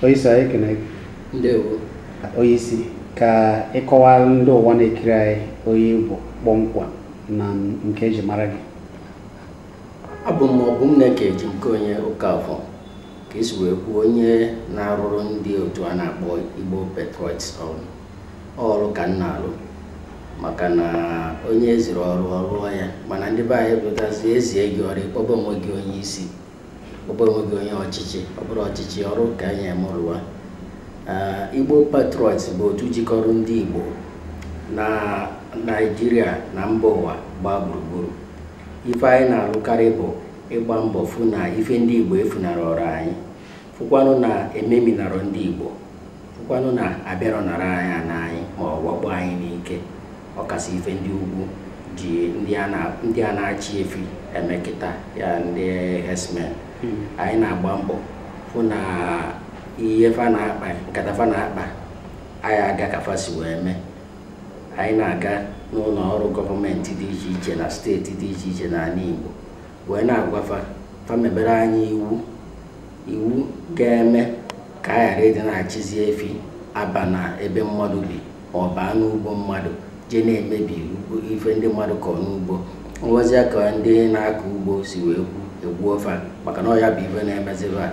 onyeisi anyị ekene ndewo onyeisi ka ị kọwara ndị ụwa na-ekiri anyị onye ị bụ kpọmkwem na nke eji mara gị abụ m Ọbụmneke Ejimnkeonye Okafọ ka esi wee kwuo onye na-arụrụ ndị otu a na-akpọ Igbo Patriots ọrụ ọrụ ka m na-alụ maka na onye eziri ọrụ ọ rụọ ya mana ndị be anyị pụtazi ezie gị ọrụ ị kpọba onwe gị onye isi kpọba onwe gị onye ọchịchị ọ bụrọ ọchịchị ọrụ ka enyere m rụwa Igbo Patriots bụ otu jikọrọ ndị Igbo na Naịjirịa na mba ụwa gbaa gburugburu ife anyị na-alụkarị bụ ịgba mbọ fụ na ife ndị Igbo efunarọrọ anyị fụkwanụ na ememinarọ ndị Igbo fụkwanụ na abịarọ nara anyị ana anyị ma ọ wakpo anyị n'ike ọkasị ife ndị ugwu ji ndị a na-achị efi eme kịta ya ndị herdsmen hmm. anyị na-agba mbọ fụ na ihe fa na-akpa nkata fa na-akpa anyị aga ka fa si wee mee anyị na-aga n'ụnọ ọrụ gọọmenti dị iche iche na steeti dị iche iche n'ana Igbo wee na-agwa fa fa mebere anyị iwu iwu ga-eme ka a ghara ịdị na-achịzi efi aba na ebe mmadụ bi ma ọ baa n'ugbo mmadụ jee na-emebi ife ndị mmadụ kọrọ n'ugbo nwezia ka ndị na-akọ ugbo si wee kwuo egbuo fa maka na ọ ya bụ ife na-emeziba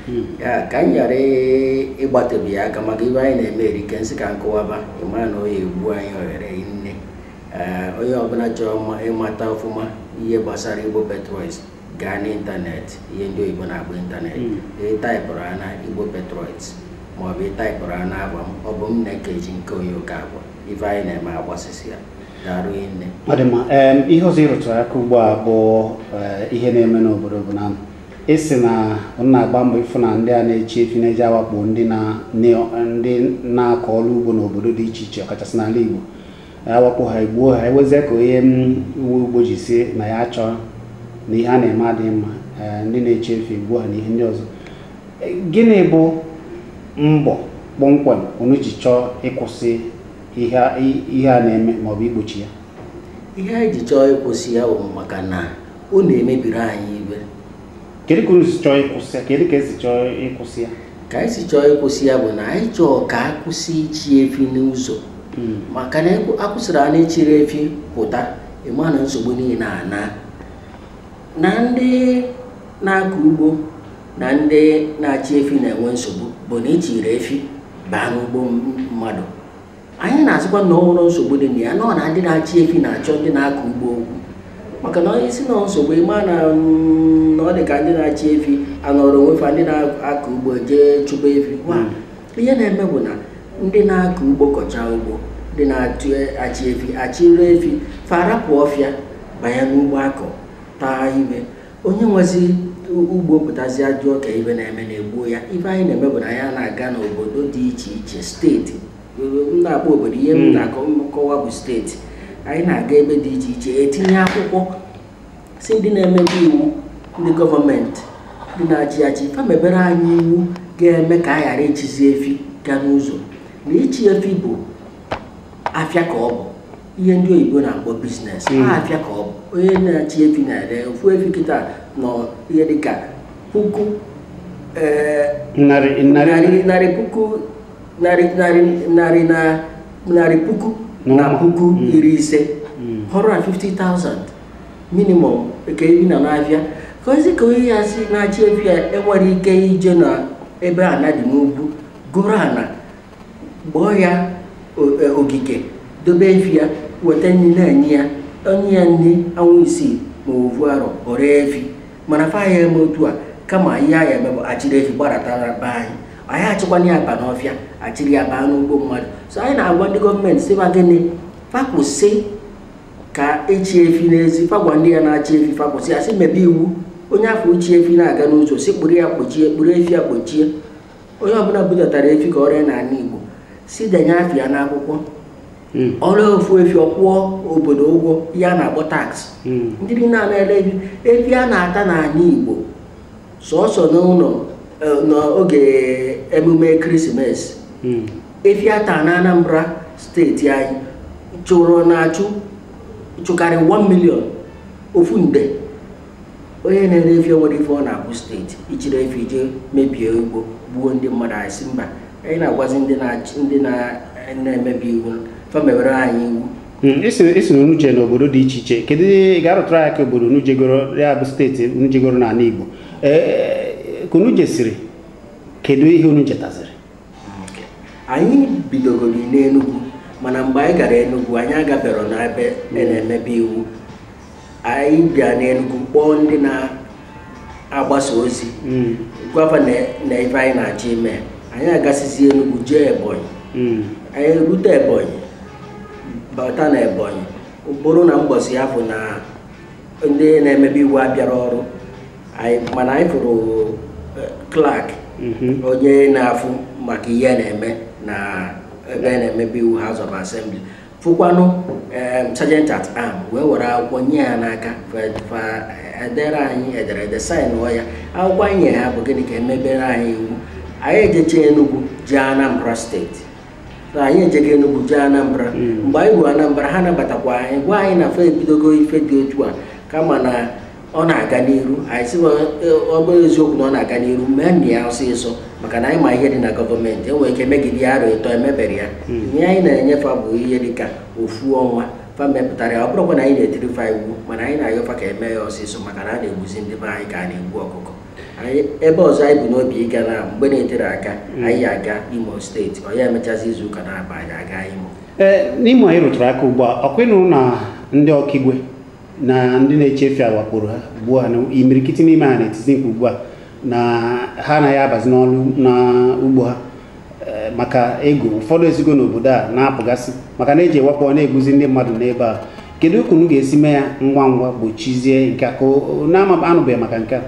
hmm. ya ka anyị ghara ịgbatịbe ya aka maka ife anyị na-eme erike m sị ka m kọwaba ị ma na ọ ya-egbu anyị ohere nne ee onye ọbụla chọrọ ịmata ọfụma ihe gbasara Igbo Patriots gaa n'ịntanetị ihe ndị oyibo na-akpọ ịntanetị Mm. ịtaịpụrụ ha na Igbo Patriots maọbụ ịtaịpụrụ ha na afa m Ọbụmneke Ejimnkeonye Okafọ ife anyị na-eme agbasịsịa daarụ nne ọ dị mma em, ihe ọzọ ị rụtụrụ aka ugbu a bụ eh, ihe na-eme n'obodo bụ na ị sị na unu na-agba mbọ ịfụ na ndị a na-achị efi na-eje awakpo ndị na- ndị na-akọ ọrụ ugbo n'obodo dị iche iche ọkachasị n'ala Igbo awakpo ha egbuo ha ewezie ka onye nwe ugbo ji sị na ya achọghị na ihe a na-eme adịghị mma ndị na-achị efi egbuo ha na ihe ndị ọzọ gịnị bụ mbọ kpọmkwem unu ji chọọ ịkwụsị ihe a na-eme maọbụ igbochi ya ihe anyị ji chọọ ịkwụsị ya bụ maka na ọ na-emebiri anyị ife kedu ka unu si chọọ ịkwụsị ya kedu ka esi chọọ ịkwụsị ya ka anyị si chọọ ịkwụsị ya bụ na anyị chọọ ka a kwụsị ịchị efi n'ụzọ hmm. maka na akwụsịrị a na-achịrị efi pụta ị ma na nsogbu niile anaa na ndị na-akọ ugbo na ndị na-achị efi na-enwe nsogbu bụ na ị chịrị efi baa n'ugbo mmadụ anyị na-asịkwa na ọ nwere nsogbu dị na ya na ọ na ndị na-achị efi na-achọ ndị na-akọ ugbo okwu maka na ị sị na ọ nsogbu ị ma na mm, na ọ dị ka ndị na-achị efi anọrọ onwe fa ndị na-akọ ugbo jee chụba efi fa, ihe na-eme bụ na ndị na-akọ ugbo kọcha ugbo ndị na-achị efi achịrị efi fa arapụ ọfịa banye n'ugbo akọ taa ime onye nwezi ugbo pụtazi ajụọ ka ife na-eme na-egbuo ya ife anyị na-eme bụ na anyị na-aga n'obodo dị iche iche steeti m na-akpọ obodo ihe m hmm. na-akọwa bụ steeti anyị na-aga ebe dị iche iche etinye akwụkwọ sị ndị na-emebe iwu ndị gọọmenti ndị na-achị achị fa mebere anyị iwu ga-eme ka a ghara ịchịzi efi gaa n'ụzọ na ịchị efi bụ afịa ka ọ bụ ihe ndị oyibo na-akpọ biznes hmm. afịa ka ọ bụ onye na-achị efi na-ere ofu efi kịta nọ ihe dịka puku eh, narị puku narị narị na narị puku na puku hmm. iri ise 150,000 hmm. minimum ka ere na n'afịa ka ozi ka onye ya si na-achị efi ya enwere ike ije na ebe ana dị n'ugwu goro ana gboo ya e, ogige dobe efi ya weta nri na-enye ya o nye ya nri ọnwa isii ma ovu arọ o ree efi mana fa ya eme otu a kama ihe fa ya eme bụ achịrị efi gbadatara be anyị anyị achịkwana ya aba n'ọfịa achịrị ya baa n'ugbo mmadụ so anyị na-agwa ndị gọọmenti sị fa gịnị fa kwụsị ka echi efi n'ezi fa gwa ndị a na-achị efi fa kwụsị ya sị mebe iwu onye a fụ chị efi na-aga n'ụzọ sị kpụrụ ya kpochie kpụrụ efi ya kpochie onye ọbụna budatara efi ka o ree ya na ana Igbo sị denye afa ya n'akwụkwọ hmm. o ree ofu efi ọ kwụọ obodo ụgwọ ya a na-akpọ tax hmm. ndị niile a na-ere efi efi a na-ata n'ana Igbo sọsọ n'ụnọ e, n'oge emume Christmas hmm. efi a ta na Anambra steeti anyị chụrụ na-achụ chụkarị 1 million ofu nde onye na-ere efi nwere ife ọ na-akwụ steeti ị chịrị efi i jee mebie ugbo gbuo ndị mmadụ anyị sị mba anyị na-agwazi ndị na-achị ndị na- na-emebe iwu fa mewere anyị iwu Mm, ị sị na unu jee n'obodo dị iche iche kedu ị ga-arụtụrụ anyị aka obodo unu jegoro ya bụ steeti unu jegoro n'ana Igbo ee ka unu jesiri kedu ihe unu jetaziri anyị bidogoro n'Enugwu mana mgbe anyị gara Enugwu anyị agaberọ n'ebe a na-emebe iwu anyị bịa n'Enugwu kpọọ ndị na-agbasa ozi hmm. gwa fa na ife anyị na-achọ ime anyị agasizi Enugwu jee Ebonyi hmm. anyị erute Ebonyi bata na Ebonyi bụrụ na mbọsị afụ na ndị na-emebe iwu abịarọ ọrụ mana anyị fụrụ eh, clerk mhm. onye na-afụ maka ihe na-eme na ebe na-emebi iwu House of Assembly fụkwanụ sergeant at arm wee were akwụkwọ nye ya n'aka eh, edere anyị ederede saịnụọ ya akwụkwọ anyị ya bụ gịnị ka e mebere anyị iwu anyị ejecha Enugu jee Anambra steeti na anyị ejego Enugu jee Anambra hmm. mgbe anyị ruo Anambra ha nabatakwa anyị gwa anyị na fa ebidogo ife dị otu a kama na ọ na-aga n'iru anyị sị ọ bụrụ eziokwu na ọ na-aga n'iru meenụ ya ọsịsọ maka na anyị ma ihe dị na gọọmenti e nwere ike megide ya arọ ịtọ emeberọ ya hmm. ihe anyị na-enye fa bụ ihe dị ka ofu ọnwa fa mepụtara ya ọ bụrọkwa na anyị na-etiri fa iwu mana anyị na-ayọ fa ka e mee ya ọsịsọ maka na a na-egbuzi ndị be anyị ka a na-egbu ọkụkọ ebe ọzọ anyị bu n'obi ịga na mgbe na-eterọ aka mm. anyị aga imo steeti ọ ya emechazi izu ụka na-aba anyị aga imo n'imo ị rụtụrụ aka ugbu a ọ kwanụ na ndị ọkaigwe na ndị na-achị efi wakporo ha ugbu a na imirikiti n'ime ha na-etizi mkpu ugbu a na ha anaghị abazi n'ọrụ n'ugbo ha eh, maka egwu ụfọdụ esigo n'obodo a na-apụgasị maka na eji ewakpọ na-egbuzi ndị mmadụ n'ebe a kedu ka unu ga-esi mee ya ngwa ngwa gbochizie nke a ka unu anụbeghị maka nke a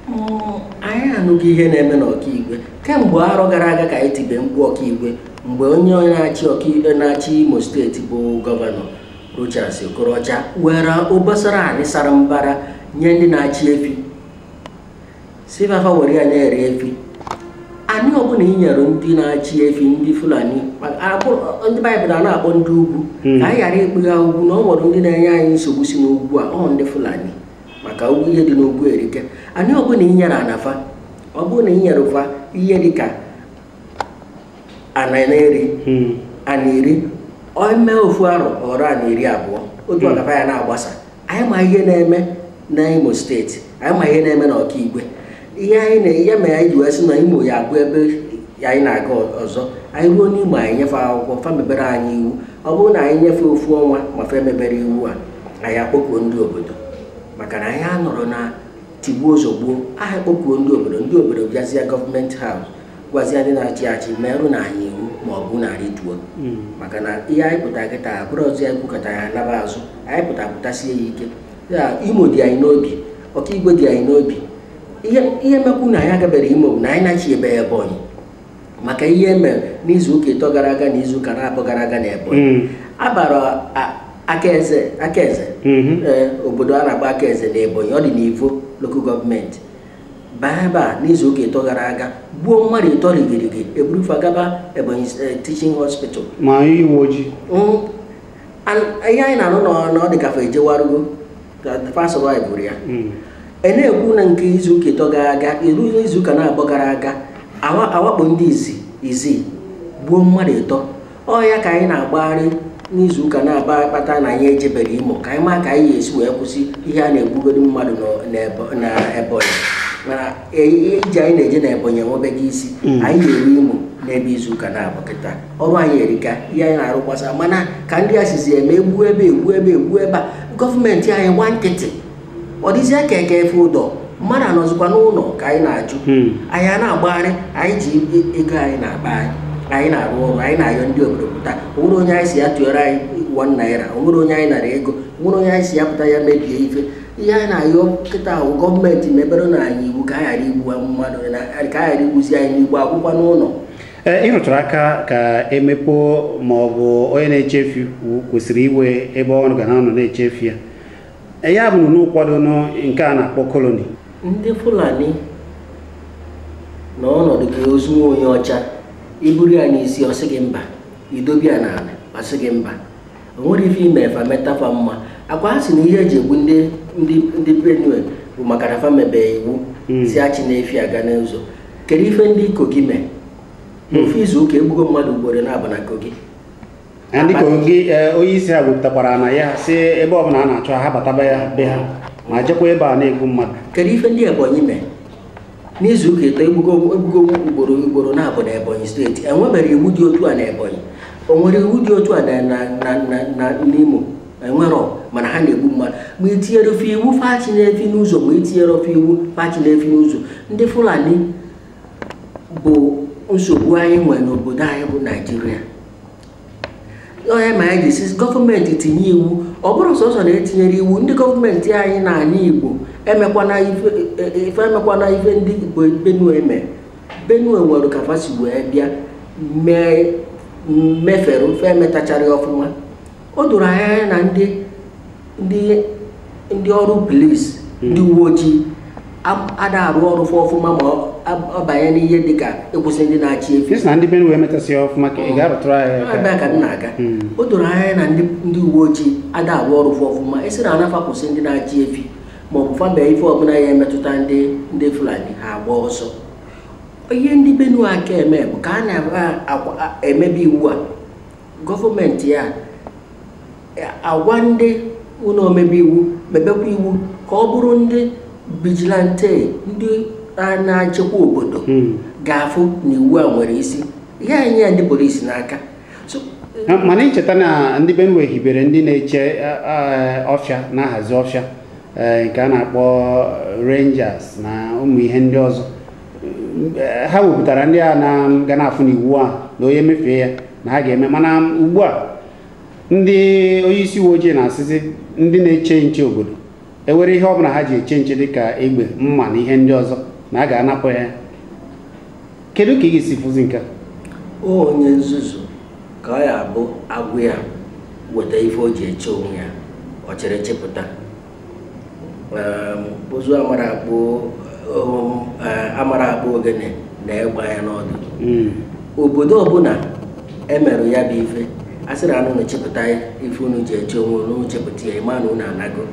mm, anyị anụgo ihe na-eme n'ọkaigwe kemgbe arọ gara aga ka anyị tibe mkpu ọkaigwe mgbe onye onye na-achị ọkaigwe na-achị imo steeti bụ gọvanọ Rochas Okorocha were obosara anị sara mbara nye ndị na-achị efi sị fa fa were ya na-ere efi anị ọbụla i nyere ndị na-achị efi ndị fulani ma- abụ- ndị baịbụl a na-akpọ ndị ugwu ka anyị ghara ịkpọ ha ugwu na o nwere ndị na-enye anyị nsogbu si n'ugwu a ọ ndị fulani maka ugwu ihe dị n'ugwu erika anị ọbụla i nyere ana fa ọ bụrụ na i nyere fa ihe dị ka ana na-eri ana iri o mee ofu arọ o ruo ana iri abụọ otu ana fa ya na-agbasa anyị ma ihe na-eme na imo steeti anyị ma ihe na-eme na ọkaigwe ihe anyị na ya mere anyị ji wee sị na imo ya abụ ebe anyị na-aga ọzọ anyị ruo n'imo anyị nye fa akwụkwọ fa mebere anyị iwu ọ bụrụ na anyị nye fa ofu ọnwa ma fa emeberọ iwu a anyị akpọkuo ndị obodo maka na anyị anọrọ na tigbuo zọgbuo anyị akpọkuo ndị obodo ndị obodo bịazie gọọmenti haus gwazie ndị na-achị achị merenụ anyị iwu ma ọ bụ unu rituo hmm. maka na ihe anyị pụta kịta abụrọzị anyị kwukata anyị naba azụ anyị pụta pụtasie ya ike ya imo dị anyị n'obi ọkaigwe dị anyị n'obi ihe mekwu na anyị agaberọ imo bụ na anyị na-eche ebe ebonyi maka ihe e mere n'izu ụka ịtọ gara aga na izu ụka naabọ gara aga na ebonyi hmm. a bara akaeze akaeze hmm. eh, obodo a na-akpọ akaeze na ebonyi ọ dị n'ivo lokal gọọmenti baa ebe a n'izu ụka ịtọ gara aga gbuo mmadụ ịtọ rigirigi e buru fa gaba Ebonyi eh, Teaching Hospital ma ndị uwe ojii Mm, and ihe anyị na-anụ na ọ- na ọ dị ka fa ejewarugo ka fa survive ya Mm. a na-ekwu na nke izuụka ịtọ gara aga iru izuụka naabọ gara aga awa- awakpo ndị Izzi Izzi gbuo mmadụ ịtọ ọ ya ka anyị na-agbagharị n'izu ụka naabọ a kpata na anyị ejeberọ imo ka anyị maa ka anyị ga-esi wee kwụsị ihe a na-egbugoro mmadụ nọ- n'Ebo- na ebonyi mana e- ihe ije anyị na-eje na ebonyi enwebeghị isi anyị ya-eru imo n'ebe izu ụka naabọ kịta ọrụ anyị erika ihe anyị na-arụ gbasara mana ka ndị a sizi eme e gbuo ebe e gbuo ebe e gbuo ebe a gọọmenti anyị gbaa nkịtị ọ dịzie ka eke efe ụdọ mmadụ anọzikwa n'ụnọ ka anyị na-ajụ hmm. anyị a na-agbagharị anyị ji ego anyị n'akpa anyị anyị na-arụ ọrụ anyị na-ayọ ndị obodo pụta o nwere onye anyị sị ya tụọrọ anyị one naira o nwere onye anyị nara ego o nwere onye anyị sị ya pụta ya mebie ife ihe anyị na-ayọ kịta bụ gọọmenti meberenụ anyị iwu ka a ghara igbu mmadụ ka a ghara igbuzi anyị n'igbo akwụkwọ n'ụlọ ị rụtụrụ aka ka e mepe ma ọ bụ onye na-achị efi kwesịrị inwe ebe ọ ga na-anọ na-achị efi ya Eya bụ na ị kwado nke a na-akpọ colony. Ndị Fulani na ọ na-adị ka ozu nwa onye ọcha i buru ya n'isi ọ sị gị mba i dobe ya n'ala ọ sị gị mba o nwere ife i me fa meta fa mma ọ kwa ha sị na ihe e ji egbu ndị ndị Benue bụ maka na fa mebe iwu hmm. sị achịna efi aga n'ụzọ kedu ife ndị kogi mee hmm. n'ofu izu ụka e gbugo mmadụ ugboro naabọ na kogi ndị kogi e, onye isi ha kwupụtakwara na ya sị ebe ọ bụla a na-achụ ha bataba ya be ha ma jekwa ebe a na-egbu mmadụ kedu ife ndị ebonyi mee n'izu ụka ịtọ e gbugo ugboro ugboro naabọ na ebonyi steeti enwebere iwu dị otu a na ebonyi o nwere iwu dị otu a na n'imo enwerọ mana ha na-egbu mmadụ ma i tinyere fa iwu fa achịna efi n'ụzọ ma i tinyerọ fa iwu fa achịna efi n'ụzọ ndị fulani bụ nsogbu anyị nwere n'obodo anyị bụ naijiria ọ ya mere anyị ji sị gọọmenti tinye iwu ọ bụrọ sọsọ na e tinyere iwu ndị gọọmenti anyị n'anị igbo emekwana ife e, e, emekwana ife ndị igbo benue mee benue nwere ka fa si wee bịa mee mefere ofe emetacharọ ọfụma o doro anya anya na ndị ndị ndị ọrụ polis ndị uwe ojii am- ada arụ ọrụ fa ọfụma ma ọ- ab- ọ banye n'ihe dịka ịkwụsị ndị na-achị efi Ị sị na ndị Benue emetasịa ọfụma ka ị ga-arụtụrụ anyị aka. ebe a ka m na-aga Mm. o doro anya na ndị ndị uwe ojii ada arụ ọrụ fa ọfụma esi na anafa kwụsị ndị na-achị efi ma ọ bụ fa mee ife ọbụla ya-emetụta ndị ndị fulani ha agba ọsọ ihe ndị benue aka eme bụ ka a na-emebe iwu a gọọmenti ya agwa ndị ụlọ omebe iwu mebekwa iwu ka ọ bụrụ ndị vigilante ndị na-echekwa obodo hmm. ga-afụ na iwu a nwere isi ha enye ya ndị polisi n'aka mana i cheta na ndị Benue hibere ndị na-eche ọfịa na-ahazi ọfịa e, nke a na-akpọ rangers na ụmụ ihe ndị ọzọ ha wepụtara ndị a na ga na-afụ n'iwu a na onye mefee ya na ha ga-eme mana ugbu a ndị onye isi uwe ojii na-asịzi ndị na-eche nche obodo ewere ihe ọbụla ha ji eche nche dịka egbe mma na ihe ndị ọzọ na a ga-anapụ ya kedu ka ị ga-esi fụzi nke a? onye nzuzu ka ọ ya bụ a gwa ya weta ife o ji eche onwe ya ọ chịrị chịpụta ụzụ amarọ akpụ amarọ akpụ ogene nee egbe anya n'ọdụ hmm. obodo ọbụla e mere ya bụ ife a sịrị unu chịpụta ife unu ji eche onwe unu chịpụta ya ị ma na unu anago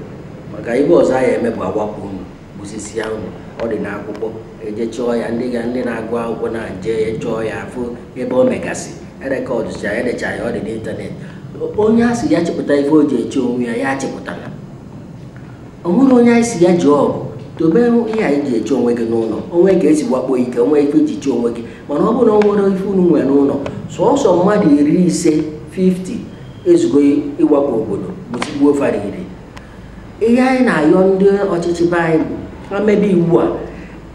maka ife ọzọ a ya eme bụ awakpo unu gbusisia unu ọ dị n'akwụkwọ e jee chọọ ya ndị ga ndị na-agụ akwụkwọ na-eje chọọ ya afụ ebe o megasị erekọdụcha edecha ya ọ dị n'ịntanetị onye a sị ya chịpụta ife o ji eche onwe ya ya chịpụtana o nwerọ onye anyị sị ya jee ọgụ dobe ihe ị ji eche onwe gị n'ụlọ o nwee ka e si wakpo gị ka ị nwee ife ị ji chee onwe gị mana ọ bụrụ na o nwerọ ife unu nwere n'ụlọ sọsọ mmadụ iri ise 50 ezugo ịwakpo obodo bụtigbuo fara iri ihe anyị na-ayọ ndị ọchịchị be anyị bụ ha mebe iwu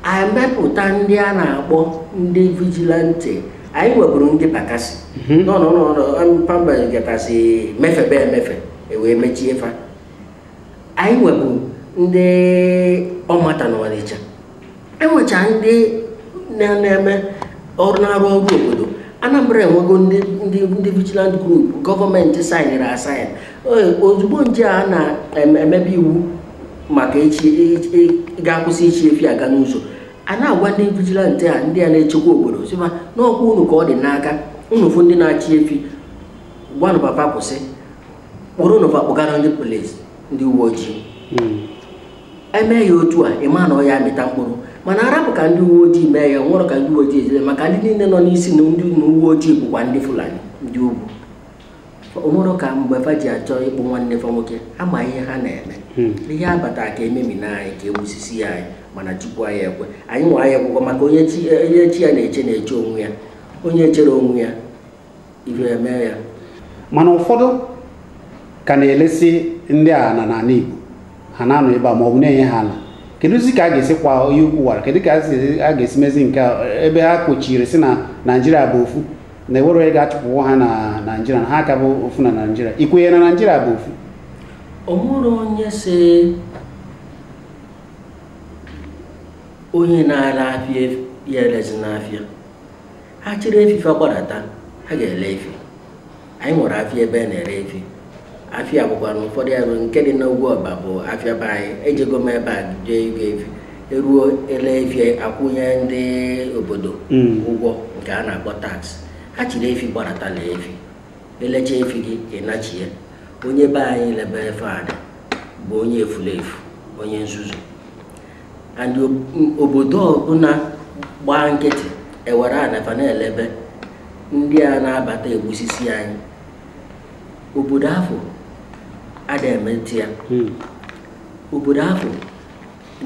a e mepụta ndị a na-akpọ ndị vigilante anyị nweburu ndị Bakassi mhm. n'ọnụ n'ọnụ pamba gatasị mefebe emefe ewee mechie fa anyị nweburu ndị OMATA na Ọnịcha enwecha ndị na-eme ọrụ na-arụ ọrụ obodo Anambra enwego ndị ndị ndị vigilante group gọọmenti saịnịrị asaịn ozugbo nje a na-emebe iwu maka a ga-akwụsị ịchị efi aga n'ụzọ a na-agwa ndị vigilante a ndị a na-echekwa obodo sị fa na ọkwa unu ka ọ dị n'aka unu fụ ndị na-achị efi gwanụ fa fa kwụsị kpụrụnụ fa kpụgara ndị polisi ndị uwe ojii emee ya otu a ị ma na ọ ya amịta mkpụrụ mana a rapụ ka ndị uwe ojii mee ya o nwerọ ka ndị uwe ojii ejide maka ndị niile nọ n'isi na ndị uwe ojii bụkwa ndị Fulani ndị ugwu o nwerọ ka mgbe fa ji achọ ịkpụ nwanne fa nwoke ha ma ihe ha na-eme hmm. ihe abata ka e memina anyị ka e gbusisia anyị mana Chukwu aya ekwe anyị nwa aya ekwekwa maka onye chi ya na-eche na-eche onwe ya onye cherọ onwe ya ife emee ya mana ụfọdụ ka na-elesi ndị a ala n'ala Igbo ha na-anọ ebe a ma ọ bụ na-enye ha ala kedụzi ka a ga-esi kwọọ onye ukwu wara kedụ ka a ga-esi mezi nke ebe ha kwuchiri sị na Naijiria bụ ofu na enwere onye ga-achụpụnwu ha na naijiria na ha ka bụ ofu na naijiria ikwenye na naijiria bụ ofu o nwerọ onye sị onye na-ere afịa ya erezina afịa ha chịrị efi fa gbadata ha ga-ele efi anyị nwere afịa ebe a na-ere efi afịa bụkwa na ụfọdụ ya rụrụ nke dị n'ugwuọba bụ afịa be anyị ejego m ebe a jee ego efi eruo ele efi akwụnye ndị obodo hmm. ụgwọ nke a na-akpọ tax ha chịrị efi gbadata lee efi elecha efi gị ịnachie onye be anyị lebe fa ana bụ onye efulefu onye nzuzu and obodo ọbụna gbaa nkịtị ewere ana fa na-elebe ndị a na-abata egbusisi anyị obodo afụ ada emete ya hmm. obodo afụ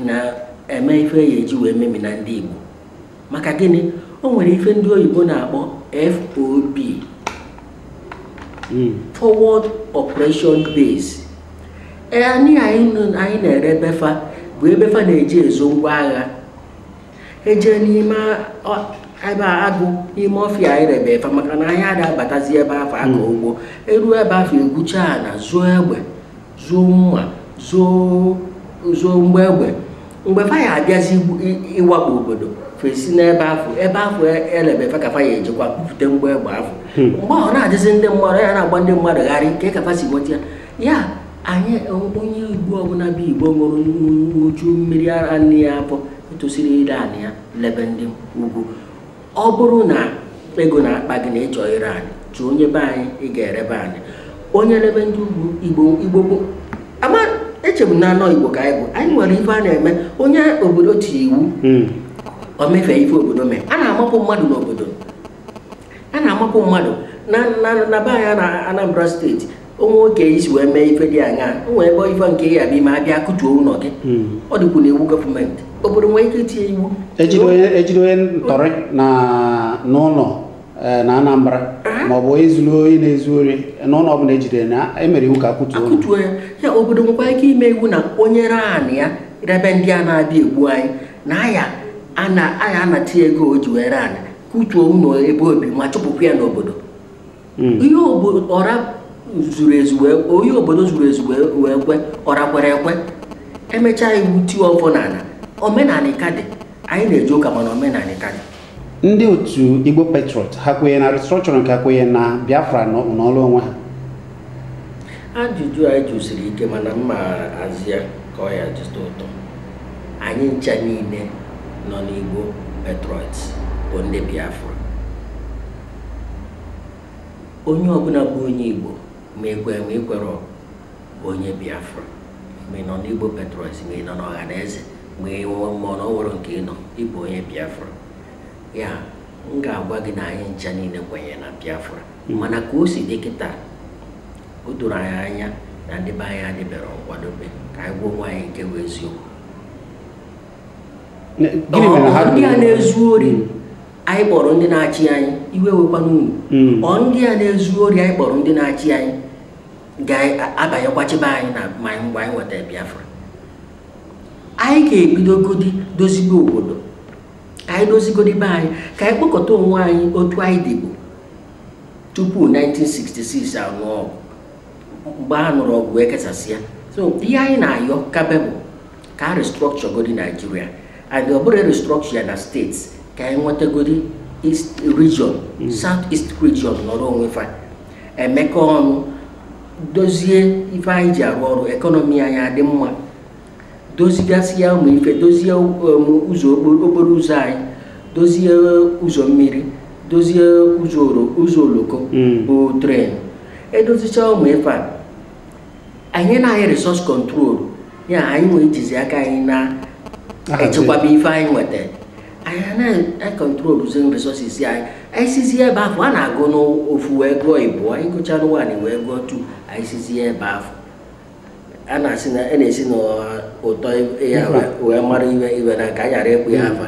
na-eme ife a ya-eji wee memina ndị Igbo maka gịnị o nwere ife ndị oyibo na-akpọ FOB hmm. forward operation base e, anị a anyị na-erebe fa bụ ebe fa na-eji ezo ngwa agha eje n'ime ebe agụ n'ime ọfịa anyị rebe fa maka na anyị ada abatazi ebe afụ akọ hmm. ugbo eruo ebe afụ egwuchaa ana zoo egbe zoo mma zoo mgbọ egbe mgbe fa ya-abịazi ịwakpo obodo fa esi n'ebe afụ ebe afụ elebe fa ka fa ya-ejekwa bupute mgbọ egbe afụ hmm. mgbe ọ na-adịzi ndị mmadụ ya na-agba ndị mmadụ gharị kee ka fa si nweta ya ya anyị onye igbo ọbụna bụ igbo ṅụjuru mmiri ara nne ya afọ etosirọ ire anị ya lebe ndị ugwu ọ bụrụ na ego na-akpa gị na ịchọ ire anị chọọ onye be anyị ị ga-erebe anị onye rebe ndị ugwu igbo igbo bụ ama echebu na anọ igbo ka anyị bụ anyị nwere ife a na-eme onye obodo tiri iwu hmm. o mefee ife obodo mee a na-amapụ mmadụ n'obodo a na-amapụ mmadụ na be anyị na Anambra steeti o nwee oke i si wee mee ife dị anya o nwere ebe ife nke ya bụ ime abịa kụtuo ụnọ gị hmm. ọ dịkwu n'iwu gọọmenti obodo nwere ike itinye iwu ejide onye ntọrị na n'ụnọ eh, na Anambra ah. ma ọ bụ ezuru onye na-ezu ori n'ụnọ ọbụna ejidere na emere iwu ka akụtuo ya ya obodo nwekwa ike ime iwu na onye ree anị ya rebe ndị a na-abịa egbu anyị na a ya-anata ya ego o ji wee ree ana kụtuo ụnọ ebe o bi ma chụpụkwa ya n'obodo hmm. ihe ọra zuru ezu onye obodo zuru ezu wee kwe ọra kwere ekwe emechaa iwu tie ọfọ n'ana omenani ka dị anyị na-eje ụka mana omenani ka dị ndị otu igbo patriot ha kwenye na restructuring ka ha kwenye na biafra nọrọ onwe ha ajụjụ anyị jụ siri ike mana m ma-aza ya ka ọ ya-eji tọọ ụtọ anyị ncha niile nọ n'igbo patriot bụ ndị biafra onye ọbụna bụ onye igbo ma i kwe ma i kwere onye biafra ma ị nọ n'igbo patriots ma ị nọ n'ọhaneze ma na o nwerọ nke ị nọ ị bụ onye biafra ya m ga-agwa gị na anyị ncha niile kwenyere na biafra mana ka o si dị kịta o doro anyị anya na ndị be anyị adịbere nkwadobe ka anyị gwa onwe anyị nke bụ eziokwu ndị a na-ezu ori anyị kpọrọ ndị na-achị anyị iwe ewekwana unu hmm. ọ ndị a na-ezu ori anyị kpọrọ ndị na-achị anyị ga-abanyekwa chịbe anyị na ma mgbe anyị nweta Biafra anyị ga-ebidogodi dozibe obodo ka anyị dozigodi be anyị ka anyị kpọkọta onwe anyị otu anyị dịbụ tupu 1966 a nụọ ọgụ mgbe a nụrụ ọgụ ekesasịa so ihe anyị na-ayọ kabe bụ ka a restructure godi Nigeria and ọ bụrọ restructure ya na states ka anyị nwetagodi east region south east region nọrọ onwe fa emekọ ọnụ dozie ife anyị ji arụ ọrụ ekọnọmi anyị adị mma dozigasịa ụmụ ife dozie um, ụzọ okporo okporo ụzọ anyị dozie ụzọ mmiri dozie ụzọ oro- ụzọ oloko Mm. bụ train edozicha ụmụ ife a enyena anyị resource control ya anyị wee jizie aka anyị na-echekwaba ife anyị nweta anyị na-acontroluzi resources anyị anyị sizi ebe afụ a na-agụ n'ofu wee gụọ ịbụọ anyị gụchaanụ one anyị wee gụọ two anyị sizi ebe afụ a na-asị na a na-esi n'ụtọ ya wee mara iwe iwe na ka anyị ghara ịkpọ ya afa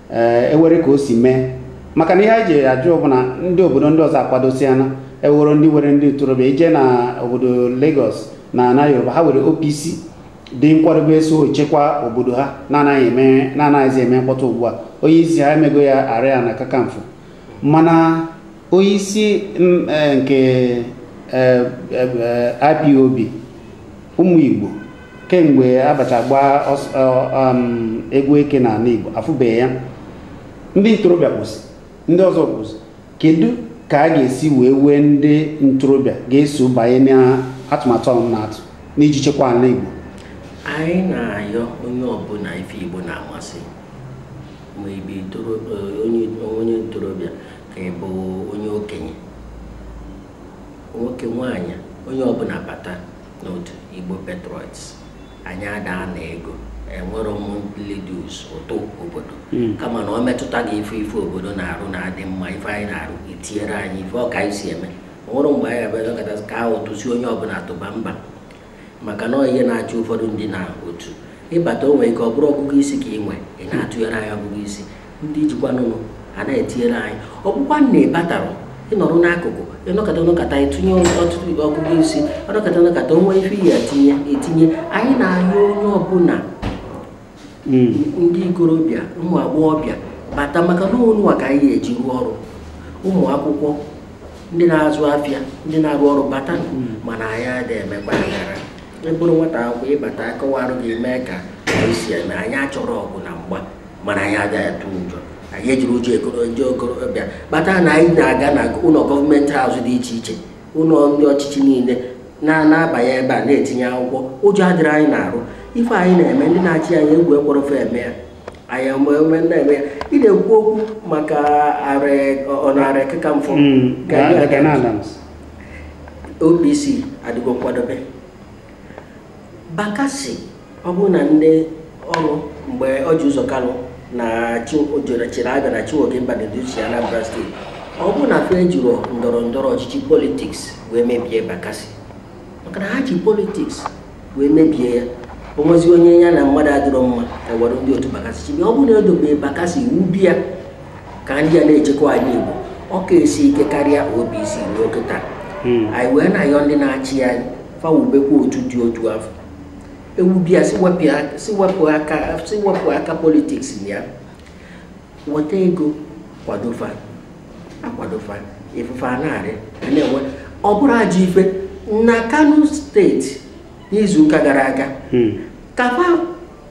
ee enwere ka o si mee maka na ihe anyị ji ajụ bụ na ndị obodo ndị ọzọ akwadosiana ewere ndị were ndị ntorobịa i je na obodo Lagos na ana Yoruba ha were OPC dị nkwadobe eso echekwa obodo ha na-anaghị eme na-anaghịzi eme mkpọtụ ugbu a onye isi ha emego ya Aare Ona Kakanfo mana onye isi m, eh, nke eh, eh, eh, IPOB ụmụ Igbo kemgbe abịachaa gbaa um, egwu eke n'ana Igbo afụbeghị ya ndị ntorobịa kwụsị ndị ọzọ kwụsị kedu ka a ga-esi wee wee ndị ntorobịa ga-eso banye n'atụmatụ unu na-atụ n'iji chekwa ana Igbo anyị na-ayọ onye ọbụna ife Igbo na-amasị ma ị bụ onye ntorobịa ka ị bụ onye okenye nwoke nwaanyị onye ọbụna bata n'otu Igbo Patriots anyị ada ana ego enwerọ monthly dues ụtụ obodo hmm. kama na ọ metụta gị ị fụ ife obodo na-arụ na-adị mma ife anyị na-arụ i tinyere anyị ife ọ ka anyị si eme o nwerọ mgbe anyị abịakọta kee ụtụ sị onye ọbụna tụba mba maka na ihe na-achụ ụfọdụ ndị n'otu ị bata o nwere ike ọ bụrụ ọgụgụ isi ka ị nwe ị na-atụnyere anyị ọgụgụ isi ndị ijikwanụnụ a na-etinyere anyị ọ bụkwa na ị batara ịnọrọ n'akụkụ ịnọkọta ọnọkọta etinye ọtụtụ ibe ọgụgụ isi ọnọkọta ọnọkọta onwe ife ya etinye anyị na-ayọ onye ọbụla hmm. ndị ikorobịa ụmụ agbọghọbịa bata maka na ụnụnwa ka anyị ga-eji rụọ ọrụ ụmụ akwụkwọ ndị na-azụ afịa ndị na-arụ ọrụ bata hmm. mana anyị adịghị emekwa aghara ịbụrụ nwata akwụkwọ ịbata akọwarụ gị mee ka anyị si eme anyị achọrọ ọgụ na mgba mana anyị agaghị atụ ụjọ anyị ejiri ụjọ okorobịa bata na anyị na-aga na ụlọ government house dị iche iche ụlọ ndị ọchịchị niile na-abanye ebe a na-etinye akwụkwọ ụjọ adịrị anyị na-arụ ife anyị na-eme ndị na-achị anyị egwu ekwerọ fa eme ya anyịnwa na-eme ya ị na-ekwu okwu maka ọnara ekeka mfọ OPC adịgo nkwadobe Bakassi ọ bụrụ na ndị ọrụ mgbe Orji Uzor Kalu na-achịrị Abia na Chinwoke Mbadinuju chị Anambra steeti ọ bụrụ na fa jiri ndọrọ ndọrọ ọchịchị politiks wee mebie Bakassi maka na ha ji politiks wee mebie ya onwezi onye ya na mmadụ adịrọ mma ewere ndị otu Bakassi chibi ọ bụrụ na edobe Bakassi ewube ya ka ndị a na-echekwa anị Igbo ọ ka esi ike karịa OPC ruo kịta hmm. anyị wee na-ayọ ndị na-achị anyị fa wubekwa otu dị otu a fa ewube ya sị wepụ aka politiks na ya weta ego kwado fa a kwado fa ifufe anarị a na-enwe ọ bụrụ ajọ ife na Kano steeti n'izuụka gara aga ka fa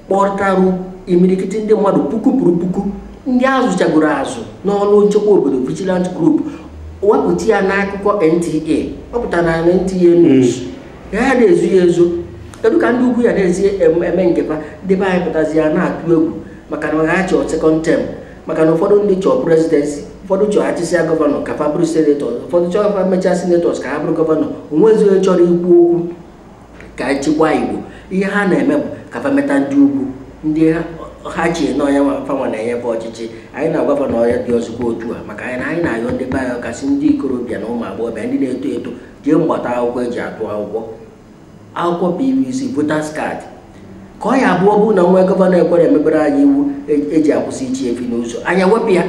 kpọtarụ imirikiti ndị mmadụ puku kwuru puku ndị azụchagoro azụ n'ọrụ nchekwa obodo vigilant group wepụta ya n'akụkọ NTA ọ pụtara na NTA news ya ya na-ezo ya ezo kedu ka ndị ugwu ya na-esi em- eme nke fa ndị be anyị pụtazi ya na-atụ egwu maka na ha chọọ second term maka na ụfọdụ ndị chọọ presidency ụfọdụ chọọ achịsịa gọvanọ ka fa bụrụ senetọ ụfọdụ chọọ fa mechaa senetọs ka ha bụrụ gọvanọ onwezi onye chọrọ ikwu okwu ka echekwa Igbo ihe ha na-eme bụ ka fa meta ndị ugwu ndị ha che na ọ fanwa na-enye fa ọchịchị anyị na-agwa fa na ọ ya-adịrọzikwa otu a maka na anyị na-ayọ ndị be anyị kasị ndị ikorobịa na ụmụ agbọghọbịa ndị na-eto eto jee gbata akwụkwọ eji atụ akwụkwọ akwụkwọ pvc voters card ka ọ ya-abụ ọ bụrụ na e nwee gọvanọ ekwerọ emebere anyị iwu e- eji akwụsị ịchị efi n'ụzọ anyị ewepụ ya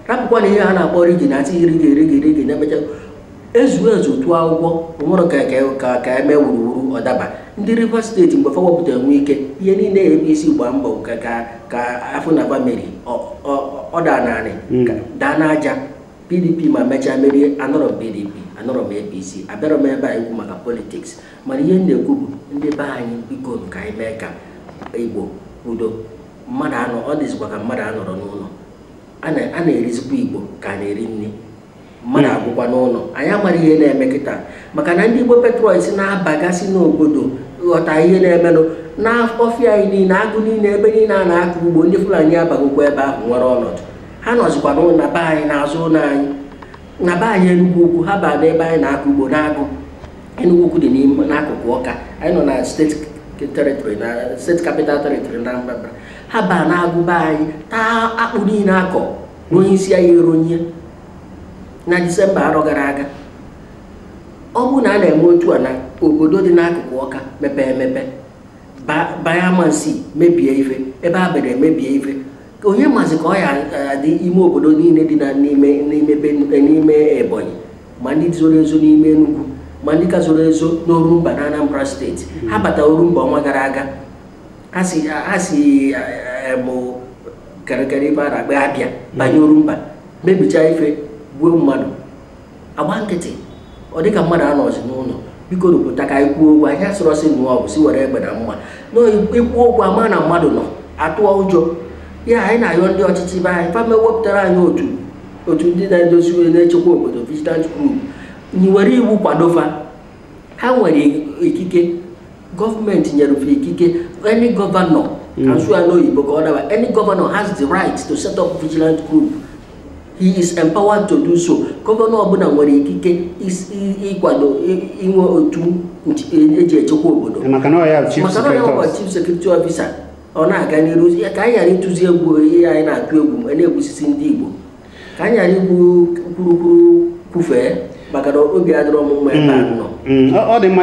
rapụkwa na ihe ha na-akpọ rigging na-asị rigging rigging rigging na-emecha ezu ezu tụọ akwụkwọ o nwerọ ka ka- ka ka eme wuruwuru ọ daba ndị rivers steeti mgbe fa wepụtara wike ihe niile apc gbaa mbọ ka ka ka a fụ na fa meri ọ daa n'anị ka- daa n'aja pdp ma mechaa merie anọrọ m pdp anọrọ m apc abịarọ m ebe a ikwu maka politiks mana ihe m na-ekwu bụ ndị be anyị biko ka anyị mee ka igbo udo mmadụ anọ ọ dịzikwa ka mmadụ anọrọ n'ụlọ a na-erizikwa igbo ka a na-eri nri mmadụ agwụkwa n'ụlọ anyị amara ihe na-eme kịta maka na ndị igbo patriots na-abagasị n'obodo ghọta ihe na-emenụ n'ọfịa anyị niile agụ niile ebe niile a na-akụ ugbo ndị fulani abagokwa ebe ahụ nwere ọnọdụ ha nọzikwa n'ụlọ na be anyị n'azụ ụlọ anyị na be anyị Enugu Ukwu ha baa n'ebe anyị na-akọ ugbo n'agụ Enugu Ukwu dị n'ime n'akụkụ Ọka anyị nọ na steeti territory na steeti capital territory na Anambra ha baa n'agụ be anyị taa akpụ niile akọ na onye isi anyị eronye na disemba arọ gara aga ọ bụrụ na a na-eme otu a na obodo dị n'akụkụ ọka mepee emepe baa banye amansi mebie ife Ebenebe mebie ife onye mazi ka ọ ya-adị ime obodo niile dị na n'ime n'ime be- n'ime ebonyi ma ndị zoro ezo n'ime enugwu ma ndị ka zoro ezo n'orumba na anambra steeti ha bata orumba ọnwa gara aga ha si ha si eh, em, karịkarị ebe a na-akpa abịa banye orumba mebicha ife gbuo mmadụ agba nkịtị ọ dịka mmadụ anọzi n'ụlọ bikonụ pụta ka anyị kwuo okwu anyị asịrọ sị nụọ ọgụ sị were egbe na mma na ikwu okwu a ma na mmadụ nọ atụọ ụjọ ya anyị na-ayọ ndị ọchịchị be anyị fa mepụtara anyị otu otu ndị na-edozi onye na-echekwa obodo vigilant group were iwu kwado fa ha nwere ikike gọọmenti nyere fa ikike any governor ka m sụọ ya n'oyibo ka ọ daba any governor has the right to set up vigilant group he is empowered to do so gọvanọ ọbụla nwere ikike ịkwado inwe otu eji e echekwa obodo maka na ya bụ chief security officer ọ na-aga n'iru ka anyị ghara ịtụzi egwu ihe anyị na-atụ egwu ma na-egbusisi ndị Igbo ka anyị ghara ikwu kwurukwuru kwufee maka na obi adịrọ m mma ebe a mm, nọ mm. ọ dị mma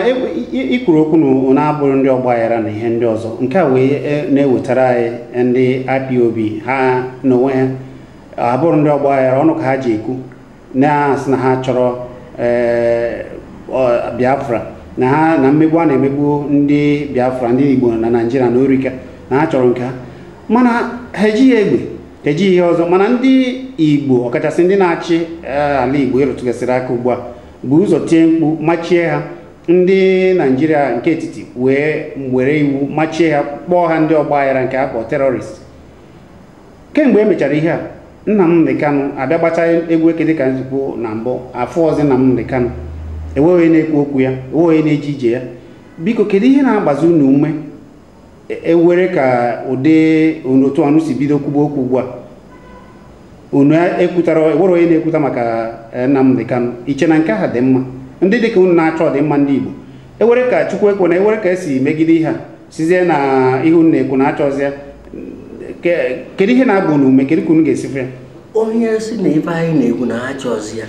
ikwuru okwu na abụrọ ndị ọgba aghara na ihe ndị ọzọ nke a wee e, na-ewetara anyị ndị IPOB ha n'onwe ha abụrọ ndị ọgba aghara ọnụ ka ha ji ekwu na-asị na ha chọrọ ee, ọ- biafra na ha na mmegbu a na-emegbu ndị biafra ndị igbo na naijiria na o rika na ha chọrọ nke ha mana ha ejighị egbe ha ejighị ihe ọzọ mana ndị igbo ọkachasị ndị na-achị ee, ala igbo ị rụtụgasịrị aka ugbu a bu ụzọ tie mkpu machie ha ndị naijiria nke etiti wee were iwu machie ha kpọọ ha ndị ọgba aghara nke a kpọ terrorist kemgbe e mechara ihe a Nnamdi Kanu abịa gbachaa egwu eke dịka m si kwuo na mbụ afọ ọzọ Nnamdi Kanu enweghị na-ekwu okwu ya enweghị na-eje ije ya biko kedu ihe na-agbazi unu ume ewere ka ụdị otu unu si bido kwuba okwu ugbu a unu ekwutara ewere onye na-ekwuta maka eh, Nnamdi Kanu iche na nke ha dị mma ndị dịka unu na-achọ ọdịmma ndị Igbo ewere ka Chukwu ekwena ewere ka esi megide ihe a sizie na ihe unu na-ekwu na achọzi ya kedu ihe na-agba unu ume kedu ka unu ga-esi fee ya onye si na ife anyị na-ekwu na achọzi ya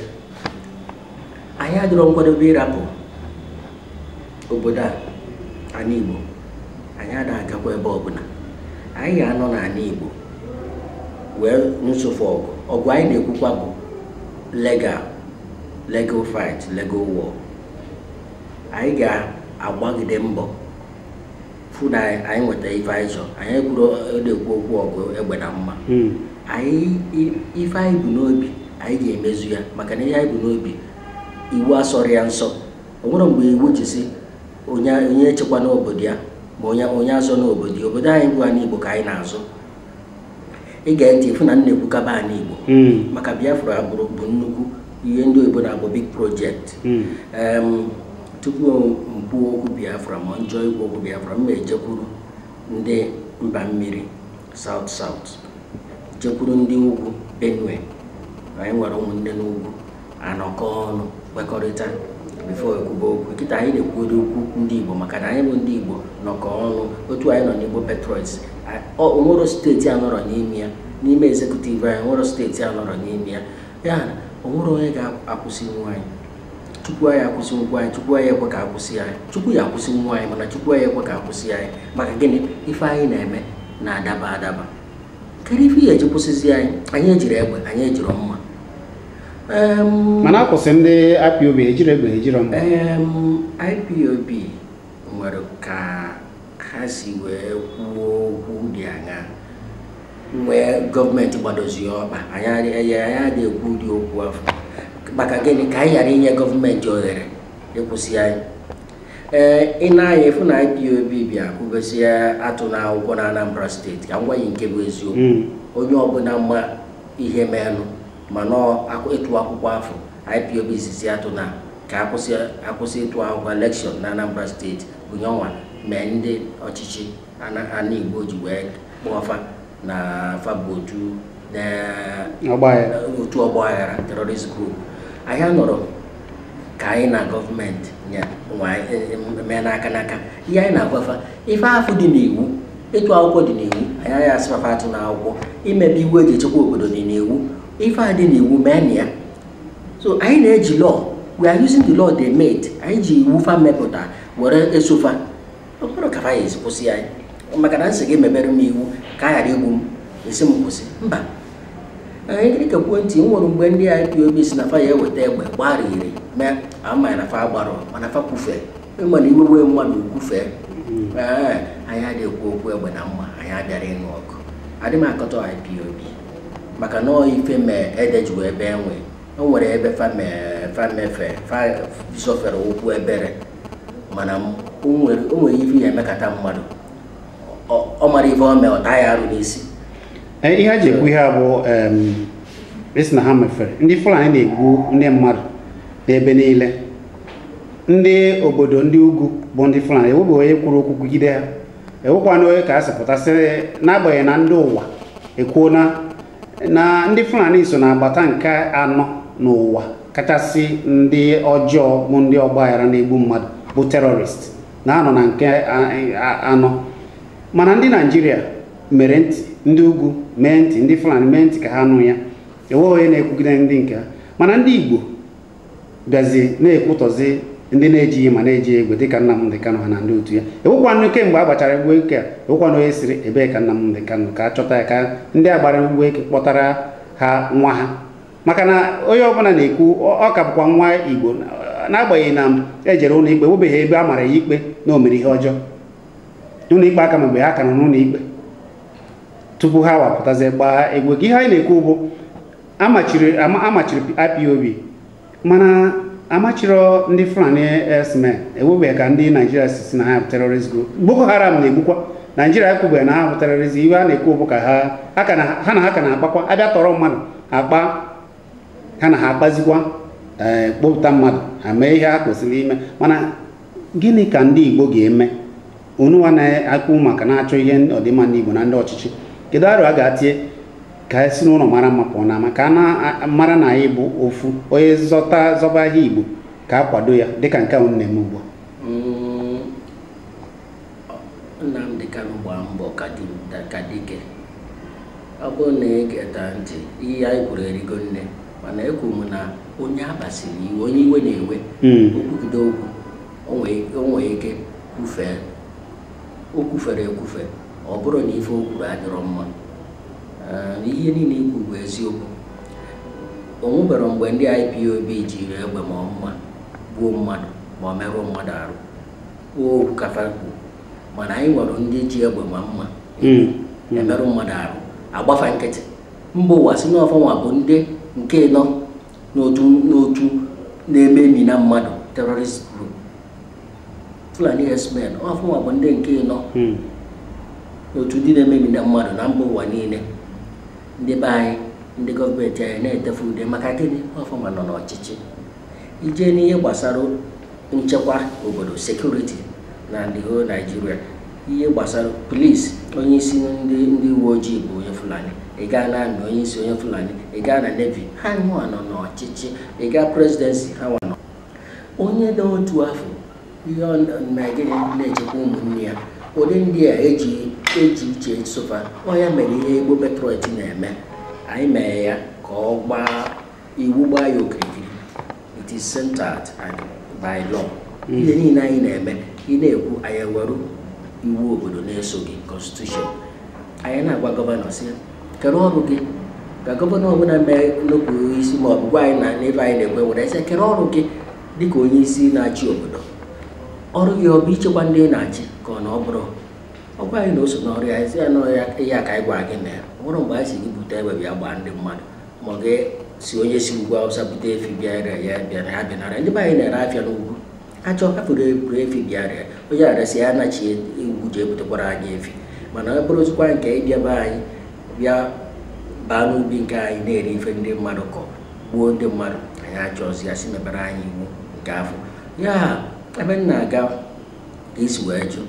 anyị adịrọ nkwadobe ịrapụ obodo a anị Igbo anyị ada agakwa ebe ọbụna anyị ga-anọ n'anị Igbo wee nsụfụ ọgụ ọgụ anyị na-ekwukwa bụ legal legal fight legal war anyị ga-agbagide mbọ fụ na anyị nweta ife anyị chọrọ anyị ekwurọ na-ekwu okwu ọgụ egbe na mma hmm. anyị ife anyị bu n'obi anyị ga-emezu ya maka na ihe anyị bu n'obi iwu asọrọ ya nsọ o nwerọ mgbe iwu ji sị onye echekwana obodo ya ma onye azọna obodo ya obodo anyị bụ anị Igbo ka anyị na-azọ ị gee ntị ị fụ na m na-ekwukaba anị Igbo hmm. maka Biafra bụrụ bụ nnukwu ihe ndị oyibo na-akpọ big project hmm. tupu m kwuo okwu Biafra ma m chọọ ikwu okwu Biafra m ejekwuru ndị mba mmiri South South jekwuru ndị ugwu Benue anyị nwere ụmụnne n'ugwu anọkọ ọnụ kwekọrịta before ekwuba okwu kịta anyị na-ekwuodu okwu ndị Igbo maka na anyị bụ ndị Igbo nọkọ ọnụ otu anyị nọ n'Igbo Patriots onwerọ steeti anọrọ n'ime ya n'ime executive anyị onwerọ steeti anọrọ n'ime ya ya na onwerọ onye ga-akwụsịnwu anyị chukwu anyị akwụsịnwu anyị chukwu anyị ekwe ka akwụsị anyị chukwu ya akwụsịnwu anyị mana chukwu anyị ekwe ka akwụsị anyị maka gịnị ife anyị na-eme na-adaba adaba kedu ife ihe eji kwụsịzi anyị anyị ejirọ egbe anyị ejirọ mma mana akwụsị ndị IPOB ejirọ egbe ejirọ mma IPOB nwere ka ha si wee kwuo okwu dị anya wee gọọmenti gbadozie ọkpa anyị adịghị ekwu ụdị okwu afụ maka gịnị ka anyị ghara inye gọọmenti ohere ịkwụsị anyị ee ị nee anya ị fụ na IPOB bịa kwubezie atụna akwụkwọ na Anambra steeti ka m gwa yị nke bụ eziokwu hmm. onye ọbụna ma ihe menụ ma na ọ ịtụ akwụkwọ afụ IPOB sịzi atụna ka akwụsị akwụsị ịtụ akwụkwọ elekshọn na Anambra steeti bụ nyanwa mee ndị ọchịchị ana ana Igbo ji wee kpọọ fa na fa bụ otu na otu ọgba aghara terrorist group anyị anọrọ ka anyị na gọọmenti nye nwa- mee n'aka n'aka ihe anyị na-agwa fa ife afụ dị n'iwu ịtụ akwụkwọ dị n'iwu anyị anaghị asị na fa atụna akwụkwọ imebe iwu eji echekwa obodo dị n'iwu ife a dị n'iwu mee na ya so anyị na-eji law we are using the law they made anyị ji iwu fa mepụta were eso fa ọ bụrụ ka fa ya-esi kwụsị anyị maka na m sị gị mebere m iwu ka a ghara igbu m ị sị m kwụsị mba anyị gịrị ka kwuo ntị o nwere mgbe ndị IPOB si na fa ya-eweta egbe gbariri mee ama m na fa gbarọ mana fa kwufere ị ma na iwe wee mmadụ o kwufee ee anyị adịghị ekwu okwu egbe na mma anyị abịarọ ịnụ ọgụ adị m akatọ IPOB maka na ọ dị ife mee ede ji wee bee nwịị o nwere ebe fa mefe zọfere ụkwụ ebere mana m- o nwere o nwere ife ị ya-emekata mmadụ Ọ- ọ mara ife o mee ọ taa ya arụ n'isi Ee, ihe a ji ekwu ihe a bụ em, ị sị na ha mefere ndị fulani na-egbu ndị mmadụ n'ebe niile ndị obodo ndị ugwu bụ ndị Fulani ewebe onye kwuru okwu kwugide ha ewekwana onye ka a sị pụtasịrị n'agbanyeghị na ndị ụwa ekwuo na na ndị Fulani so na-agbata nke anọ n'ụwa kachasị ndị ọjọọ bụ ndị ọgbaghara na-egbu mmadụ bụ terrorist na-anọ na nke anọ mana ndị Naijiria mere ntị ndị ugwu mee ntị ndị Fulani mee ntị ka ha nụ ya enweghị onye na-ekwugide ndị nke ha mana ndị Igbo bịazi na-ekwutọzi ndị na-ejighị mma na-ejighị egbe dịka Nnamdị Kanụ ha na ndị otu ya ewekwanụ kemgbe a gbachara egwu eke a ewekwanụ onye sịrị ebee ka Nnamdị Kanụ ka a chọta ya ka ndị a gbara egwu eke kpọtara ha nwa ha maka na onye ọbụla na-ekwu ọ ka bụkwa nwa Igbo n'agbanyeghị na ejere ụlọ ikpe ewebeghị ebe a mara ya ikpe na o mere ihe ọjọọ ụlọ ikpe aka mgbe ha ka nọ n'ụlọ ikpe tupu ha wapụtazie gbaa egwu eke ihe anyị na-ekwu bụ amachiri ama- amachiri ipob mana amachiro ndị fulani herdsmen ewebe ka ndị naijiria si si na ha bụ terrorist group boko haram na-egbukwa naijiria ekwubeghị na ha bụ terrorist ihe a na-ekwu bụ ka ha ha ka na- ha na ha ka na-akpakwa a bịa tọrọ mmadụ akpa ha na ha akpazikwa ee kpọpụta mmadụ ha mee ihe ha kwesịrị ime mana gịnị ka ndị igbo ga-eme unu nwa na-akpụ maka na-achọ ihe ọdịmma ndị Igbo na ndị ọchịchị kedu arọ a ga-atie ka e si n'ụlọ mara mma pụọ n'ama ka a mara na anyị bụ ofu onye zọta zọba ahịa Igbo ka a kwado ya dịka nke ahụ na-eme ugbu a mm, Nnamdị Kanụ gbaa mbọ ka dike ọ bụrụ na ị geta ntị ihe anyị kwuru erigo nne mana ekwu m na onye a kpasiri iwe onye iwe na-ewe hmm. o kwugide okwu o nwere ike kwufee o kwufere ekwufe ọ bụrụ na ife o kwuru adịrọ mma na ihe niile i kwu bụ eziokwu o nwebere mgbe ndị IPOB jiri egbe ma mma gbuo mmadụ ma ọ merụọ mmadụ arụ okwu ka fa kwuru mana anyị nwere ndị ji egbe ma mma hmm. emerụ mmadụ arụ a gba fa nkịtị mba ụwa sị n'ọ fa nwa bụ ndị nke ịnọ n'otu na-ememina mmadụ terrorist group Fulani herdsmen ọ fa nwa bụ ndị nke ịnọ hmm. n'otu ndị na-ememina mmadụ na mba ụwa niile ndị be anyị ndị gọọmenti anyị na-ete fa ude maka gịnị ọ fa nwa nọ n'ọchịchị i jee n'ihe gbasara nchekwa obodo security na the whole Naijiria ihe gbasara police onye isi ndị ndị uwe ojii bụ onye fulani ị gaa na army onye isi onye fulani ị gaa na navy ha nwa nọ n'ọchịchị ị gaa presidency ha nwa nọ onye dị otu afụ ihe ọ na- na gịnị na-echekwa ụmụnne ya ụdị ndị a eji eji uche eso fa ọ ya mere ihe Igbo Patriot na-eme anyị mee ya ka ọ gbaa iwu gbaa ya okirikiri it is centered and by law hmm. ihe niile anyị na-eme ị na-ekwu anyị eweru iwu obodo na-eso gị constitution anyị na-agwa gọvanọ sị kere ọrụ gị ka gọvanọ ọbụla mee nnukwu isi ma ọ bụ gwa anyị na n'ebe anyị na-ekwe were ese kere ọrụ gị dịka onye isi na-achị obodo ọrụ gị ọ bụ ichekwa ndị ị na-achị ka ọ na ọ bụrọ ọ gwa anyị na o so n'ọrụ ya e sị ya na ya ka anyị gwa gị na ya nwere mgbe anyị sị gị bute egbe bịa gbaa ndị mmadụ ma gị sị onye si ugwu awụsa bute efi bịa ree ya bịara ha bịanara ndị be anyị na-ere afịa n'ugwu achọ hapụrụ eburu efi bịa ree ya onye resịa ya anachi ugwu ji ebutekwara anyị efi mana ọ bụrụzikwa nke ịbịa be anyị bịa baa n'ubi nke anyị na-eri ife ndị mmadụ kọ gbuo ndị mmadụ anyị achọzi ya sị mebere anyị iwu nke afụ ya ebe m na-aga ka i si wee jụọ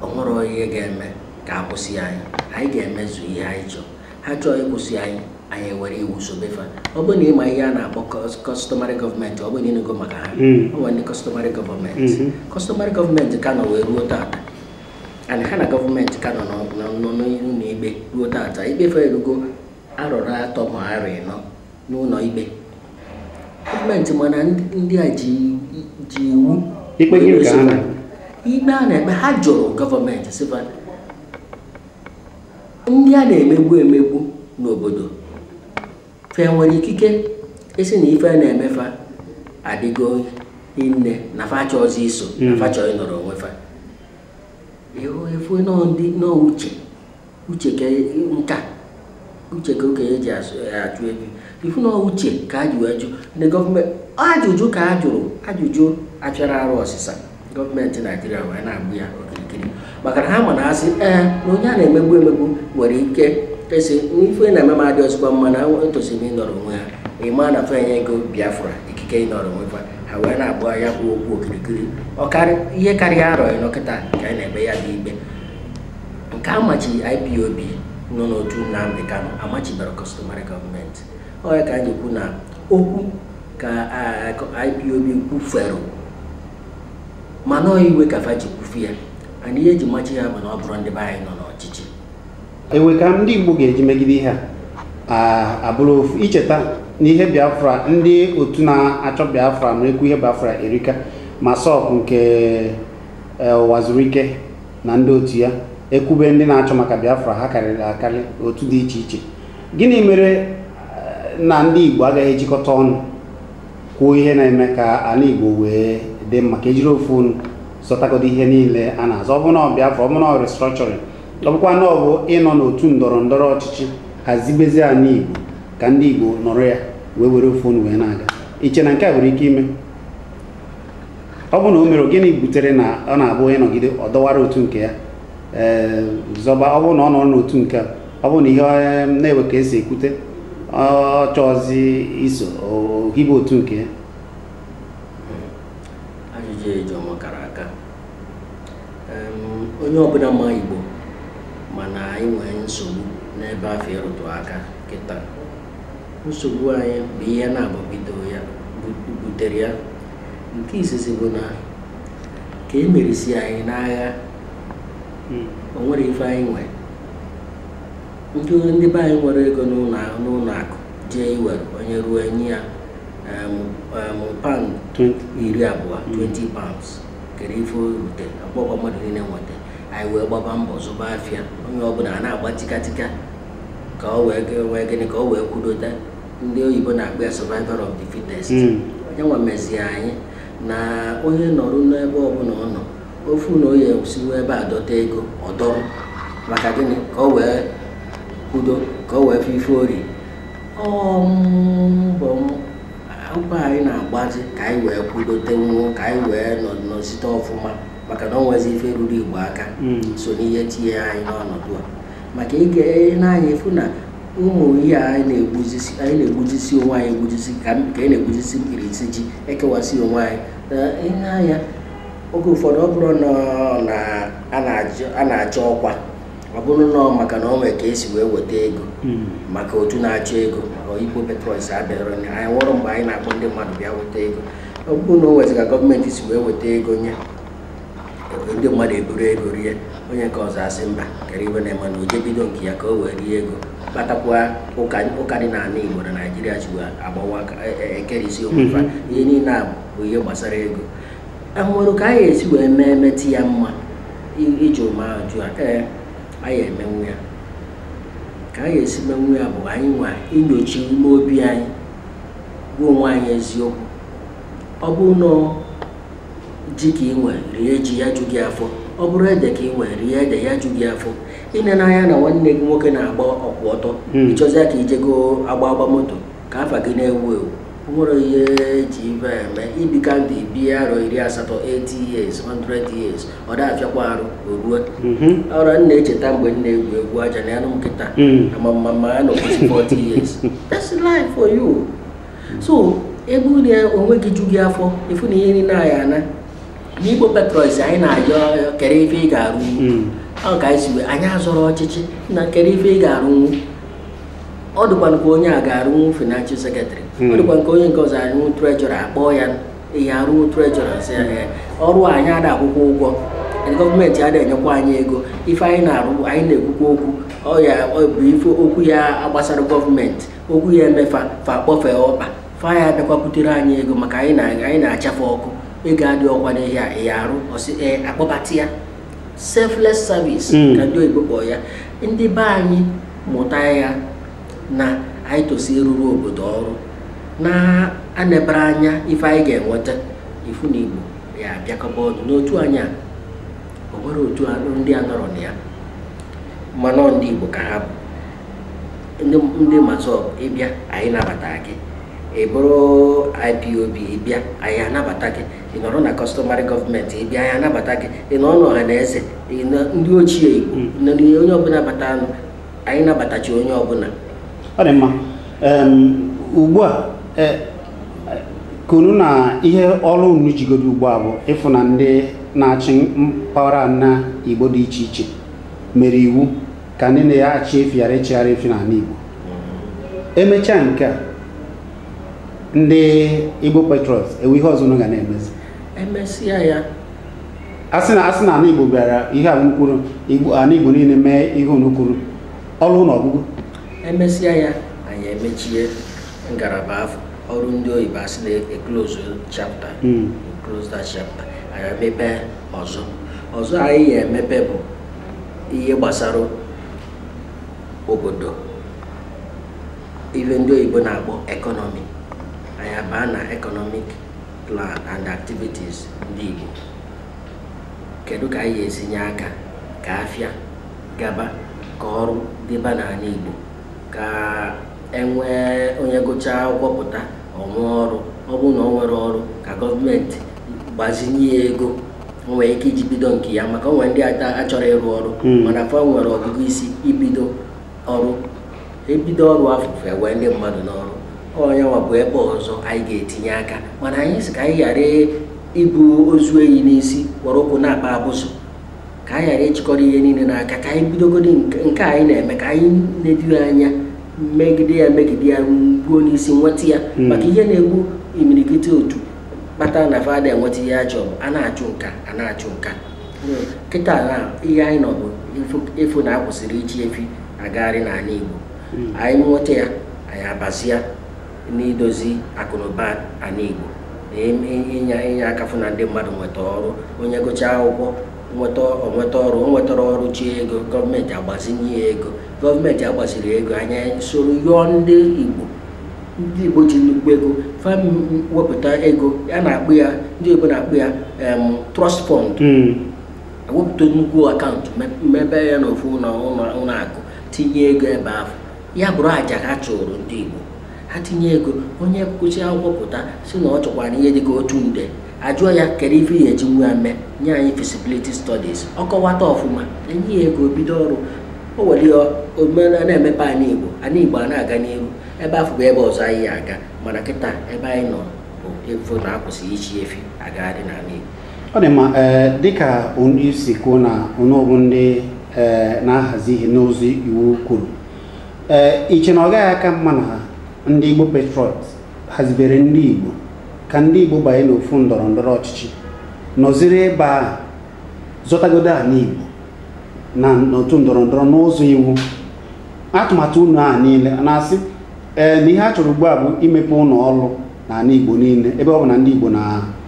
o nwere ihe ga-eme ka a kwụsị anyị anyị ga-emezu ihe anyị chọrọ ha chọọ ịkwụsị anyị anyị ewere iwu sobe fa ọ bụrụ na ị ma ihe a na-akpọ customary government ọ bụrụ na ị nụgo maka ha hmm. o nwere ndị customary government hmm. customary government ka nọ wee ruo taata and ha na gọọmenti ka nọ n'ụlọ ikpe ruo taata ikpe fa erugo arọ arọ atọ ma arọ ịnọ n'ụlọ ikpe gọọmenti mana ndị a ji iwu ikpe a na-ekpe ha jụrụ gọọmenti sị fa ndị a na-emegbu emegbu n'obodo fa enwere ikike ịsị na ife a na-eme fa adịgo nne na fa achọzi iso na hmm. fa chọ ịnọrọ onwe fa efu n'uche uche ka e, nka uche ka okenye ji achụ e, ebi ifu na uche ka a ji wee jụ ndị gọọmenti ajụjụ ka a jụrụ ajụjụ a chọrọ arụ ọsịsa gọọmenti Naijiria wee na-agba ya okirikiri maka na ha ma na a sị ee na onye a na-emegbu emegbu nwere ike ịsị ife na-eme m adịrọzịkwa mma na etosi m ịnọrọ onwe ha ịma na fa enyego Biafra ikike ịnọrọ onwe fa ha wee na-agba ya bụ okwu okirikiri ihe karịa arọ ịnọ kịta ka anyị na-eme ya bụ ikpe nke a machiri IPOB nọ n'otu Nnamdi Kanu amachiberọ customary gọọmenti ọ ya ka anyị kwu na okwu ka IPOB kwufere mana ọ iwe ka fa ji kwufu ya ana ihe eji machi ya bụ na ọ bụrụ ndị be anyị nọ n'ọchịchị ewe ka ndị Igbo ga-eji megide ihe a abụrọ ofu i cheta na ihe Biafra ndị otu na-achọ Biafra na-ekwu ihe Biafra erika MASSOB nke e, Ụwazuruike na ndị otu ya ekwube ndị na-achọ maka Biafra ha karịrị akarị otu dị iche iche gịnị mere eh, na ndị Igbo agaghị ejikọta ọnụ kwuo ihe na-eme ka anị Igbo wee dị mma ka e jiri ofu ọnụ zọtagodo ihe niile a na-azọ ọ bụ na ọ Biafra ọ bụ na ọ restructuring ọ bụkwa na ọ bụ ịnọ n'otu ndọrọ ndọrọ ọchịchị hazibezi anị Igbo ka ndị Igbo nọrọ ya wee were ofu ọnụ wee na-aga i che na nke a nwere ike ime ọ bụ na o mere ọ gịnị butere na ọ na-abụ onye nọgide ọ dọwara otu nke ya ee zọba ọ bụrụ na ọ nọrọ n'otu nke a, ọ bụrụ na ihe ọ na-ewe ka esi ekwute ọ chọọzi iso o hibe otu nke ya ajụjụ ị jụ m a kara aka Em, onye ọbụna ma Igbo ma na anyị nwere nsogbu n'ebe afụ ị rụtụ aka kịta nsogbu anyị bụ ihe naabọ bido ya butere ya nke izizi bụ na ka e merisi anyị n'agha hmm. o nwere ife anyị nwe ndị ndị be anyị nwere ego n'ụnọ akụ jee iwere onye ruo e nye ya pound iri abụọ 20 hmm. pounds kere ife rute akpọkwa mmadụ niile nweta anyị wee gbaba mbọ zụba afịa onye ọbụna a na-agba tikatika ka o wee ga- wee gịnị ka o wee kwudote ndị oyibo na-akpọ ya survival of the fittest Mm. ọ nya nwa mezie anyị na onye nọrụ n'ebe ọbụna ọ nọ ọ fụ na ọ ya-esi ebe a dọta ego ọ dọrọ maka gịnị ka o wee kwudo ka o wee fụ ife o ri ọ mbọ m akwụkwọ anyị na-agbazi ka anyị wee kwudote nwuo ka anyị wee nọ nọzite ọfụma maka na o nwezi ife ruru Igbo aka Mm. so n'ihe tinye anyị n'ọnọdụ a maka ị ga-ene anya afụ na ụmụ ihe a anyị na-egbujisi anyị na-egbujisi onwe anyị egbujisi ka m- ka anyị na-egbujisi mkpirisi ji ekewasị onwe anyị nee anya oge ụfọdụ ọ bụrụ na ọ na- a na-ajụ- a na-achọ ọkwa ọ bụrụ na ọ maka na ọ nwere ka esi wee weta ego maka otu na-achọ ego ọ igbo Patriots abụrọ onye anyị nwụrụ mgbe anyị na-akpọ ndị mmadụ bịa weta ego ọ bụrụ na o nwezi ka gọọmenti si wee weta ego nye ndị mmadụ eburu ego rie onye nke ọzọ asị mba kere ife na-eme na o jee bido nke ya ka o wee rie ego kpatakwa ụka dị n'ala Igbo na Naịjirịa ji agbawa e, e, ekerisi okwufa mm-hmm. ihe niile a bụ ihe gbasara ego e nwere ka anyị esi wee mee metụ ya mma iji ụma ajụ a ee anyị emenwu ya ka anyị esi menwu ya bụ anyị nwa inyocha ime obi anyị gwa onwe anyị eziokwu ọ bụrụ na ji ka ị nwe rie ji ya ju gị afọ ọ bụrụ ede ka ị nwe rie ede ya ju gị afọ ị nene anya na nwanne gị nwoke na-agba ọkwụ ọtọ hmm. ị chọzịa ka i jee goo agba agba moto ka afa gị na-ewu ewu o nwere ihe ji ibe eme i bika ndụ i bie arọ iri asatọ 80 years 100 years ọ da afịakwa arụ o rue mhm. ọrụ m na-echeta mgbe m na-egwu egwu aja na anụ nkịta hmm. ama m ma m ya-anọkwụsị 40 years that's life for you so ebe unu ya onwe gị ju gị afọ ifu na ihe mere na anyị a nọ n'igbo Patriots anyị na-ajụ ọrịọ kere ife ị ga-arụ Mm. ọ ka anyị si wee anyị azọrọ ọchịchị na kere ife ị ga-arụnwu ọ dịkwa nke onye a ga-arụnwu financial secretary Mm. ọ dịkwa nke onye nke ọzọ arụnwu treasurer akpọọ ya ị ya-arụnwu treasurer sị ya "Ee, ọrụ a anyị ada akwụkwa ụgwọ gọọmenti ada enyekwa anyị ego ife anyị na-arụ anyị na-ekwukwa okwu ọ ya ọ bụ ife okwu ya gbasara gọọmenti okwu ya-eme fa fa kpọfee ọkpa fa ya-abịakwa butere anyị ego maka anyị na anyị na-achọ fa okwu ego adịrọkwa n'ihe a ị ya-arụ ọ sị ee akpọbata ya selfless service Mm. ka ndị oyibo kpọọ ya ndị be anyị mụta ya na anyị tosi ịrụrụ obodo ọrụ na-enebarọ anya ife anyị ga-enweta ifu na igbo ya-abịakọba ọnụ n'otu anyị a o nwere otu a- ndị a nọrọ na ya mana ọ ndị igbo ka ha bụ ndị MASSOB ị bịa anyị nabata gị ị bụrụ IPOB ị bịa anyị anabata gị ị nọrọ na customary gọọmenti ị bịa anyị anabata gị ị nọ n'Ọhanaeze ndị ochie igbo nọ n'ihe onye ọbụla batanụ anyị nabatachi onye ọbụla ọ dị mma ugbu a i kwuru na ihe ọrụ unu jigodo ugbu a bụ ịfụ na ndị na-achị mpaghara ana igbo dị iche iche mere iwu ka ndị na-achị efi ghara ịchịgharị efi n'ala Igbo emechaa nke a ndị Igbo Patriots enwee ihe ọzọ unu ga na-emezi emesịa ya asị na asị na ala Igbo bịara ihe a unu kwuru Igbo ala Igbo niile mee ihe unu kwuru ọrụ na ọgụgụ emesịa ya anyị emechie ngalaba afụ ọ bụrụ ndị oyibo asị na e close chapter Mm. close that chapter anyị emepe ọzọ ọzọ anyị ya-emepe bụ ihe gbasara obodo ife ndị oyibo na-akpọ ekọnọmi anyị abaa na economic plan and activities ndị Igbo kedu ka anyị ga-esi nye aka ka afịa gaba ka ọrụ dịba n'ala Igbo ka enwee onye gụchaa akwụkwọ pụta o nwee ọrụ ọ bụrụ na o nwerọ ọrụ ka gọọmenti gbazinye ya ego o nwere ike iji bido nke ya maka o nwere ndị achọrọ ịrụ ọrụ hmm. mana fa nwere ọgụgụ isi ibido ọrụ ebido ọrụ afụ fa ewee ndị mmadụ n'ọrụ ọ ya nwa bụ ebe ọzọ anyị ga-etinye aka mana anyị sị ka anyị ghara ibu ozu enyi n'isi were ụkwụ na-akpa abụzụ ka anyị ghara ịchịkọrọ ihe niile n'aka ka anyị bidogodi nke anyị na-eme ka anyị nedo anya megide ya megide ya gbuo n'isi nweta ya hmm. maka ihe na-egbu imirikiti otu kpatara na fa ada enweta ihe a chọrọ a na-achụ nka a na-achụ nka kịta na ihe anyị nọ bụ ịfụ na akwụsịrị ịchị efi agagharị n'ala Igbo anyị nweta ya anyị abazia n'idozi akụnụba ala Igbo inye inye aka fụ na ndị mmadụ nweta ọrụ onye gụchaa akwụkwọ nweta o nweta ọrụ o nwetarọ ọrụ chọọ ego gọọmenti agbazinye ya ego gọọmenti agbazirọ ego anyị esoro yọọ ndị Igbo ndị Igbo ji nnukwu ego fa wepụta ego a na-akpọ ya ndị oyibo na-akpọ ya trust fund hmm. ewepụta nnukwu akaụntụ mebe ya n'ofu ụlọ akụ tinye ego ebe ahụ ya bụrụ aja ha chụrụ ndị Igbo ha tinye ego onye gụsịa akwụkwọ pụta sị na ọ chọkwara ihe dịka otu nde ajụọ ya kedu ife ị ya-eji nwa mee nye anyị feasibility studies ọ kọwata ọfụma enye ya ego bido ọrụ o were ya o wee na-emepe ala Igbo ala Igbo a na-aga n'ihu ebe afụ bụ ebe ọzọ anyị ya-aga mana kịta ebe anyị nọ bụ ịfụ na akwụsị ịchị efi agagharị n'ala Igbo ọ dị mma ee eh, dịka onye isi kwuo na unu bụ ndị ee eh, na-ahazi ihe n'ụzọ iwu kwuru ee eh, i che na ọ gaghị aka mma na ndị Igbo Patriots hazibere ndị Igbo ka ndị Igbo banye n'ofu ndọrọ ndọrọ ọchịchị nọziri ebe a zọtagodo ala Igbo na n'otu ndọrọ ndọrọ n'ụzọ iwu atụmatụ unu a niile na-asị ee na ihe a chọrọ ugbu a bụ imepe ụlọ ọrụ n'ala Igbo niile ebe ọ bụ na ndị Igbo na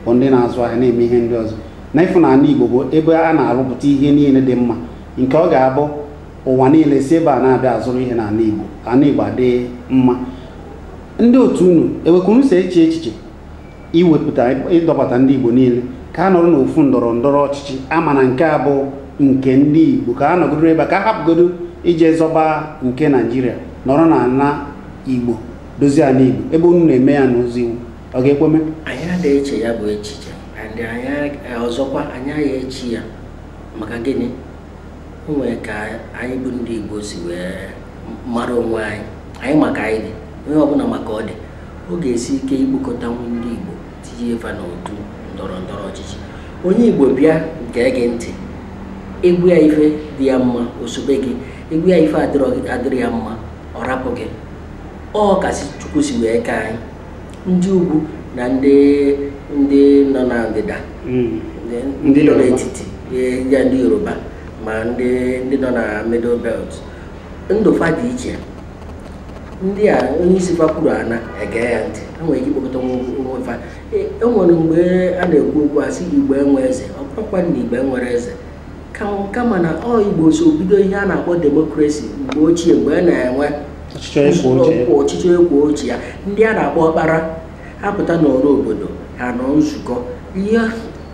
bụ ndị na-azụ ahịa na-eme ihe ndị ọzọ na ịfụ na ala Igbo bụ ebe a na-arụpụta ihe niile dị mma nke ọ ga-abụ ụwa niile si ebe a na-abịa azụrụ ihe n'ala Igbo ala Igbo adị mma ndị otu unu ewekwuru si eche echiche iwepụta ịdọbata ndị Igbo niile ka a nọrọ n'ofu ndọrọ ndọrọ ọchịchị a ma na nke a bụ nke ndị Igbo ka a nọgoro ebe ka a hapụgodo ije zọba nke Naijiria nọrọ na ala Igbo dozie ala Igbo ebe unu na-eme ya n'ụzọ iwu ọ ga-ekwe mee anyị adịghị eche ya bụ echiche ndị anyị e, ọzọkwa anyị aga eche ya maka gịnị o nwere ka anyị bụ ndị Igbo si wee mara onwe anyị anyị ma ka anyị dị onye ọbụla ma ka ọ dị ọ ga-esi ike ikpokọta ndị Igbo tinye fa n'otu ndọrọ ndọrọ ọchịchị onye Igbo bịa gee gị ntị ị gwa ya ife dị ya mma o sobe gị ị gwa ya ife adịrọ ya mma ọ rapụ gị ọ ka si Chukwu si wee kee anyị ndị ugwu na ndị ndị nọ na ndịda hmm. ndị nọ n'etiti ya ndị Yoruba ma ndị ndị nọ na middle belt ndụ fa dị iche ndị a onye isi fa kwuru a na-ege ya ntị ha nwere ike ikpokọta onwe fa enwere e mgbe a na-ekwu okwu a sị igbo enwe eze ọ bụrọkwa na igbo enwerọ eze kama na ọ igbo so bido ihe a na-akpọ demokrasi mgbe ochie mgbe a na-enwe ọchịchị ekwo ochie ya ndị a na-akpọ ọkpara ha pụta n'ọrụ obodo ha nọ nzukọ ihe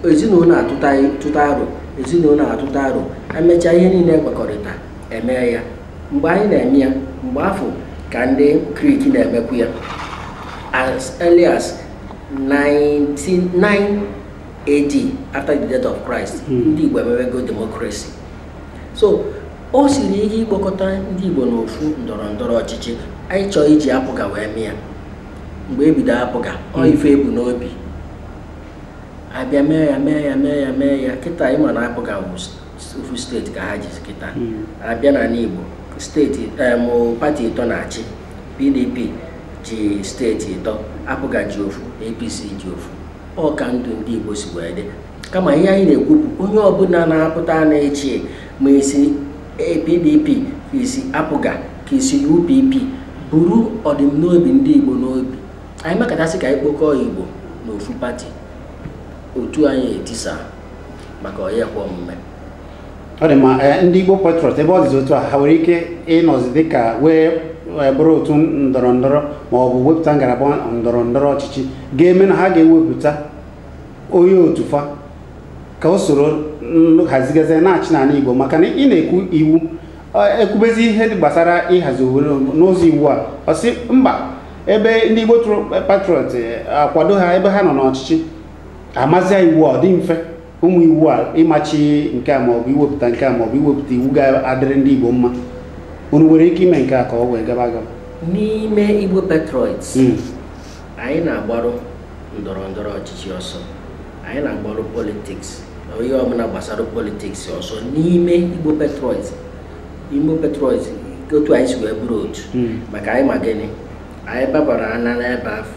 ezinụlọ atụta aro ezinụlọ atụta aro emechaa ihe niile ekwekọrịta eme ya mgbe anyị na-eme ya mgbe afụ ka ndị Greek na-emekwu ya as early as 99 AD after the death of Christ hmm. ndị Igbo emewego democracy so o siri ike ịkpọkọta ndị Igbo n'ofu ndọrọ ndọrọ ọchịchị anyị chọọ iji APGA wee mee ya mgbe e bido APGA ọ hmm. ife e bu n'obi a bịa mee ya mee ya mee ya mee ya kịta ị ma na APGA bụzị ofu steeti ka ha jizi kịta hmm. a bịa n'ala Igbo steeti pati ịtọ na-achị PDP ji steeti ịtọ APGA ji ofu APC ji ofu ọ ka ndụ ndị Igbo si wee dị kama ihe anyị na-ekwu bụ onye ọbụla na-apụta na-achị ma i si PDP ka i si APGA ka i si UPP buru ọdịmnobi ndị Igbo n'obi anyị mekata sị ka anyị kpokọọ Igbo n'ofu pati otu anyị etisa maka ọ ya-ekwe omume ọ dị mma eh, ndị Igbo Patriots ebe ọ dịzi otu a ha nwere ike ịnọzi dịka wee eh, bụrụ otu ndọrọ ndọrọ ma ọ bụ wepụta ngalaba ndọrọ ndọrọ ọchịchị ga-eme na ha ga-ewepụta onye otu fa ka o soro hazigazie na-achị n'ala Igbo maka na ị na-ekwu iwu eh, ekwubezi ihe gbasara ịhazi obodo n'ụzọ iwu a ọ sị mba ebe ndị Igbo Patriots akwado ha ebe ha nọ n'ọchịchị amazia iwu ọ dị mfe ụmụ iwu a ịmachi nke a maọbụ iwepụta nke a maọbụ iwepụta iwu ga-adịrị ndị Igbo mma unu nwere ike ime nke a ka o wee gaba agaba n'ime Igbo Patriots hmm. anyị na-agbarụ ndọrọ ndọrọ ọchịchị ọsọ anyị na-agbarụ politiks ife ọbụla gbasara politiks ọsọ n'ime Igbo Patriots Igbo Patriots otu anyị si wee bụrụ otu hmm. maka anyị ma gịnị anyị babara ana n'ebe afụ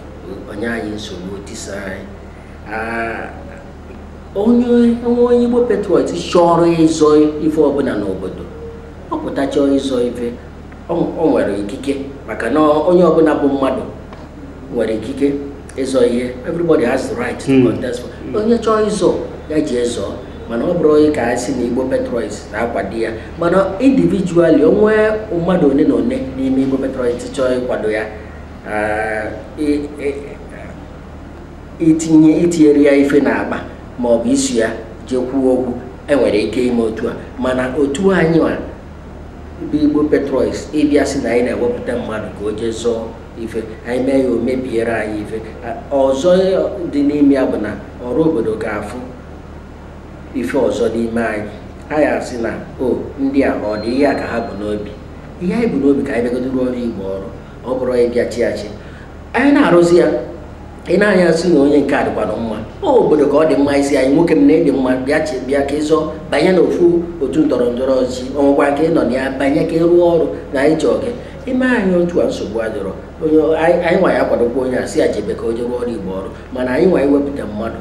o nye anyị nsogbu tisara anyị ah, onye o nwee onye Igbo Patriot chọrọ ịzọ ife ọbụla n'obodo ọ pụta chọọ ịzọ ife o nwere ikike maka na onye ọbụla bụ mmadụ nwere ikike ịzọ ihe everybody has the right to hmm. contest for hmm. onye chọọ ịzọ ya jee zọọ mana ọ bụrọ onye ka a sị na Igbo Patriots na-akwado ya mana individually o nwee mmadụ one na one n'ime Igbo Patriots chọọ ịkwado ya ah, itinye itinyere ya ife n'akpa ma ọ bụ iso ya jee kwuo okwu e nwere ike ime otu a mana otu anyị bụ Igbo Patriots ịbịa sị na anyị na-ewepụta mmadụ ka o jee zọọ ife anyị mee ya o mebiere anyị ife ọzọ dị n'ime ya bụ na ọra obodo ga-afụ ife ọzọ n'ime anyị a sị na o ndị a ọ dị ihe a ka ha bu n'obi ihe anyị bu n'obi ka anyị bịagodu rụọrọ Igbo ọrụ ọ bụrọ anyị bịa chịa achị anyị na-arụzi ya e nee anya a sị na onye nke a dịkwanụ mma ọ obodo ka ọ dị mma isi anyị nwoke m na ị dị mma bịa chịa bịa ka ị zọọ banye n'ofu otu ndọrọ ndọrọ ọchịchị ọ bụkwa nke ị nọ na ya banye ka ị rụọ ọrụ na anyị chọọ gị i mee anyị otu a nsogbu adịrọ anyị nwa ya-akwadokwa onye a sị ya jebe ka o jee rụọrọ Igbo ọrụ mana anyị nwa iwepụta mmadụ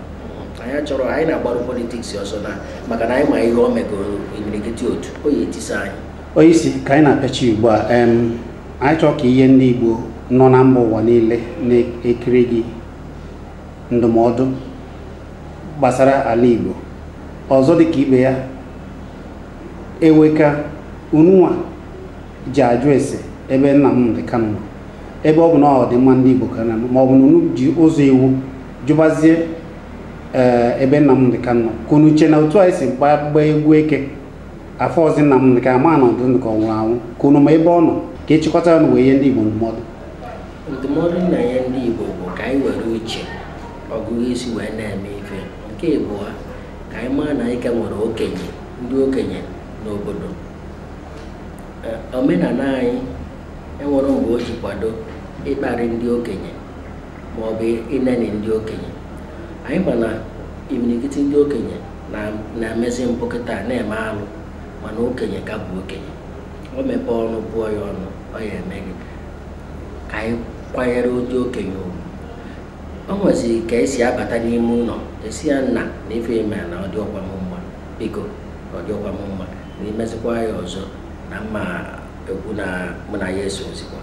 anyị achọrọ anyị na-agbarụ politiks ọsọ na maka na anyị ma ihe o megoro imirikiti otu ọ ya-etisa anyị onye isi ka anyị na-apịachi ugbu a em, anyị chọọ ka i nye ndị Igbo nọ na mba ụwa niile na-ekiri gị ndụmọdụ gbasara ala igbo ọzọ dị ka ibe ya eweka ununwa ji ajụ ese ebe Nnamdi Kanu nọ ebe ọ bụ na ọdịmma ndị Igbo ka na ma ọ bụ na unu ji ụzọ iwu jụbazie ee ebe Nnamdi Kanu nọ ka unu che na otu anyị si gbaa gbaa egwu eke afụrọzi Nnamdi Kanu ama na ọ dị ndụ ka ọ nwụrụ anwụ ka unu ma ebe ọ nọ ka achịkọta ya ọnụ wee nye ndị Igbo ndụmọdụ ndụmọdụ m na-enye ndị Igbo bụ ka anyị were uche ọgụgụ isi wee na-eme ife nke ịbụọ ka anyị maa na anyị ka nwere okenye ndị okenye n'obodo omenala anyị enwerọ mgbe o ji kwado ịkparị ndị okenye ma ọ bụ ineni ndị okenye anyị ma na imirikiti ndị okenye na-emezi mpụ kịta na-eme alụ mana okenye ka bụ okenye o mepee ọnụ bụọ ya ọnụ ọ ya-eme gị ka anyị kwanyere ndị okenye ugwu o nweziri ka esi abata n'ime ụnọ asị ya nna na ife i me na ọ dịrọkwa m mma biko ọ dịrọkwa m mma na i mezikwa ya ọzọ na m ma ekwu na mụ na ya esorọzikwa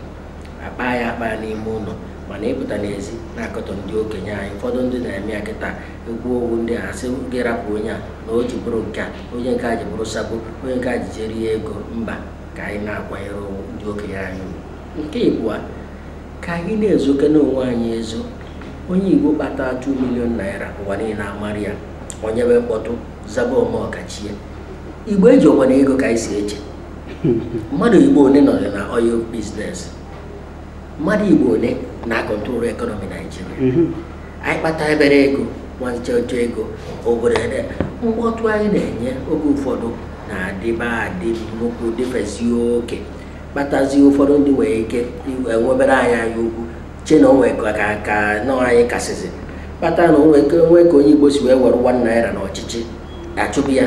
akpa ya akpa n'ime ụlọ mana ịpụta n'ezi na-akọtọ ndị okenye anyị ụfọdụ ndị na-eme ya kịta ekwu okwu ndị a sị gị rapụ onye a na o ji bụrụ nke a onye nke a ji bụrụ sabo onye nke a ji jee rie ego mba ka anyị na-akwanyere ugwu ndị okenye anyị ugwu. nke ịbụa ka anyị na-ezokene onwe anyị ezo onye igbo kpata 2 million naira ụwa niile amara ya o nyebe mkpọtụ zaba ome ọkachie igbo ejirọkwanụ ego ka anyị si eche mmadụ igbo one nọ na oil business mmadụ igbo one na-control economy naijiria mhm. anyị kpata ebere ego nwancheọcha ego obodo ede mkpọtụ anyị na-enye oge ụfọdụ na-adịba adị nnukwu dịfesi oke kpatazie ụfọdụ ndị nwere ike enwebere anyị anya ukwu che na o nwe ka nọ anyị kasịzi kpata na o nwe ka onye igbo si wee were 1 naira n'ọchịchị achụpụ ya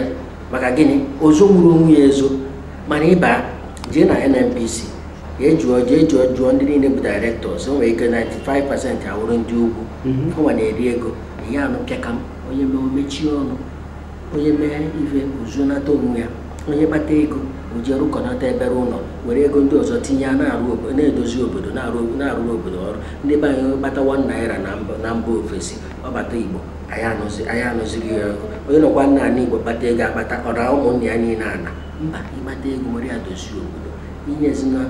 maka gịnị o zonwurọ onwe ya ezo mana ị baa jee na nnpc jee jụọ jee jụọ jụọ ndị niile bụ directors o nwere ike 95 percent awụrụ ndị ugwu ọnwa na-eri ego ị ya-anụ pịakam onye mee o mechie ọnụ onye mee ife o zonata onwe ya onye kpata ego o ji rụkọnata ebere ụnọ were ego ndị ọzọ tinye ya na-arụ obo- na-edozi obodo na-arụ- na-arụrụ obodo ọrụ ndị be anyị kpata 1 naira na mba- na mba ofesi ọ bata igbo anyị anụzi anyị anụziri ya onye nọkwa n'ana igbo kpata ego akpata ọ na ụmụnne ya niile ana mba ị kpata ego were ya dozie obodo inye ezinụlọ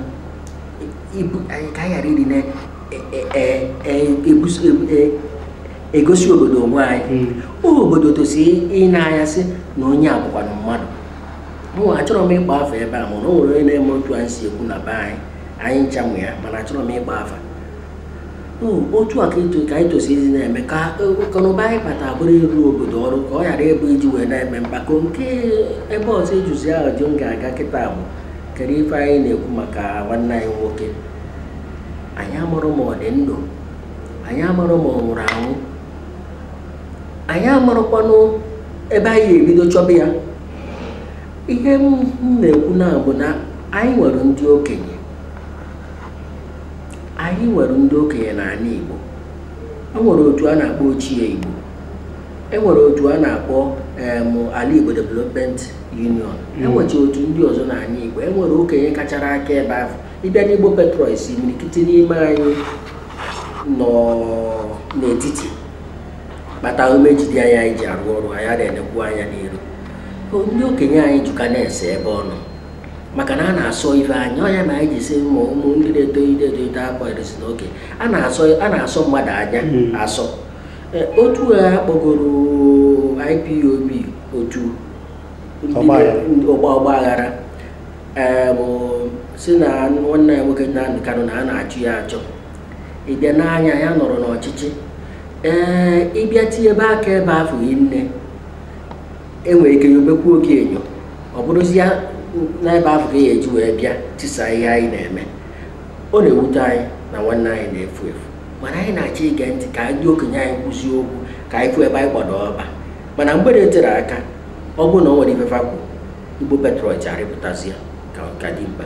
ibu anyị ka anyị ghara ịdị na-egosi obodo onwe anyị obodo tosi ine anya sị na onye a bụkwanụ mmadụ mụ achọrọ m ịkpọ afa ebe a mana o nwere onye na-eme otu anyị si ekwu na be anyị anyị ncha ma ya mana achọrọ m ịkpọ afa otu a ka anyị tosiri na-eme ka akụnụba anyị kpata bụrụ ịrụ obodo ọrụ ka ọ ghara ịbụ iji wee na-eme mkpako nke ebe ọzọ ejuzi ahụ ji m ga-aga kịta bụ kedu ife anyị na-ekwu maka nwanne anyị nwoke anyị amarọ ma ọ dị ndụ anyị amarọ ma ọ nwụrụ anwụ anyị amarọkwanụ ebe anyị ebido chọba ya ihe m na-ekwu na-abụ na anyị nwere ndị okenye anyị nwere ndị okenye n'anị Igbo e nwere otu a na-akpọ ochie Igbo e nwere otu a na-akpọ ala Igbo Development Union e nwecha otu ndị ọzọ n'anị Igbo e nwere okenye kachara aka ebe ahụ ị bịa n'Igbo Patriots imirikiti n'ime anyị nọ n'etiti kpata ume ji dị anyị anyị ji arụ ọrụ anyị adịghị enekwu anya n'iru ndị okenye anyị jụka na-ese ebe ọ nọ maka na a na-asọ ife anya ọ ya na anyị ji sị ma ụmụ ndị na-etoite etoite akwa eresi n'oke a na-asọ a na-asọ mmadụ anya Mm. asọ E, otu a kpọgoro IPOB otu ọgba ọgba aghara Ee, bụ sị na nwanne ya nwoke Nnamdi Kanu na a na-achọ ya achọ ị bịa n'anya ya nọrọ n'ọchịchị ee ị bịa tinye ebe aka ebe afọ nne e nwere ike nyobekwuo gị enyo ọ bụrụzie n'ebe ahụ ka a ya-eji wee bịa tisa ihe anyị na-eme ọ na-ewute anyị na nwanne anyị na-efu efu mana anyị na-achọ ige ntị ka ndị okenye anyị kwuzie okwu ka anyị fụ ebe anyị gbado ọkpa mana mgbe e tere aka ọ bụrụ na o nwere ife fa kwuru Igbo Patriots arịpụtazi ya ka ọ ka dị mkpa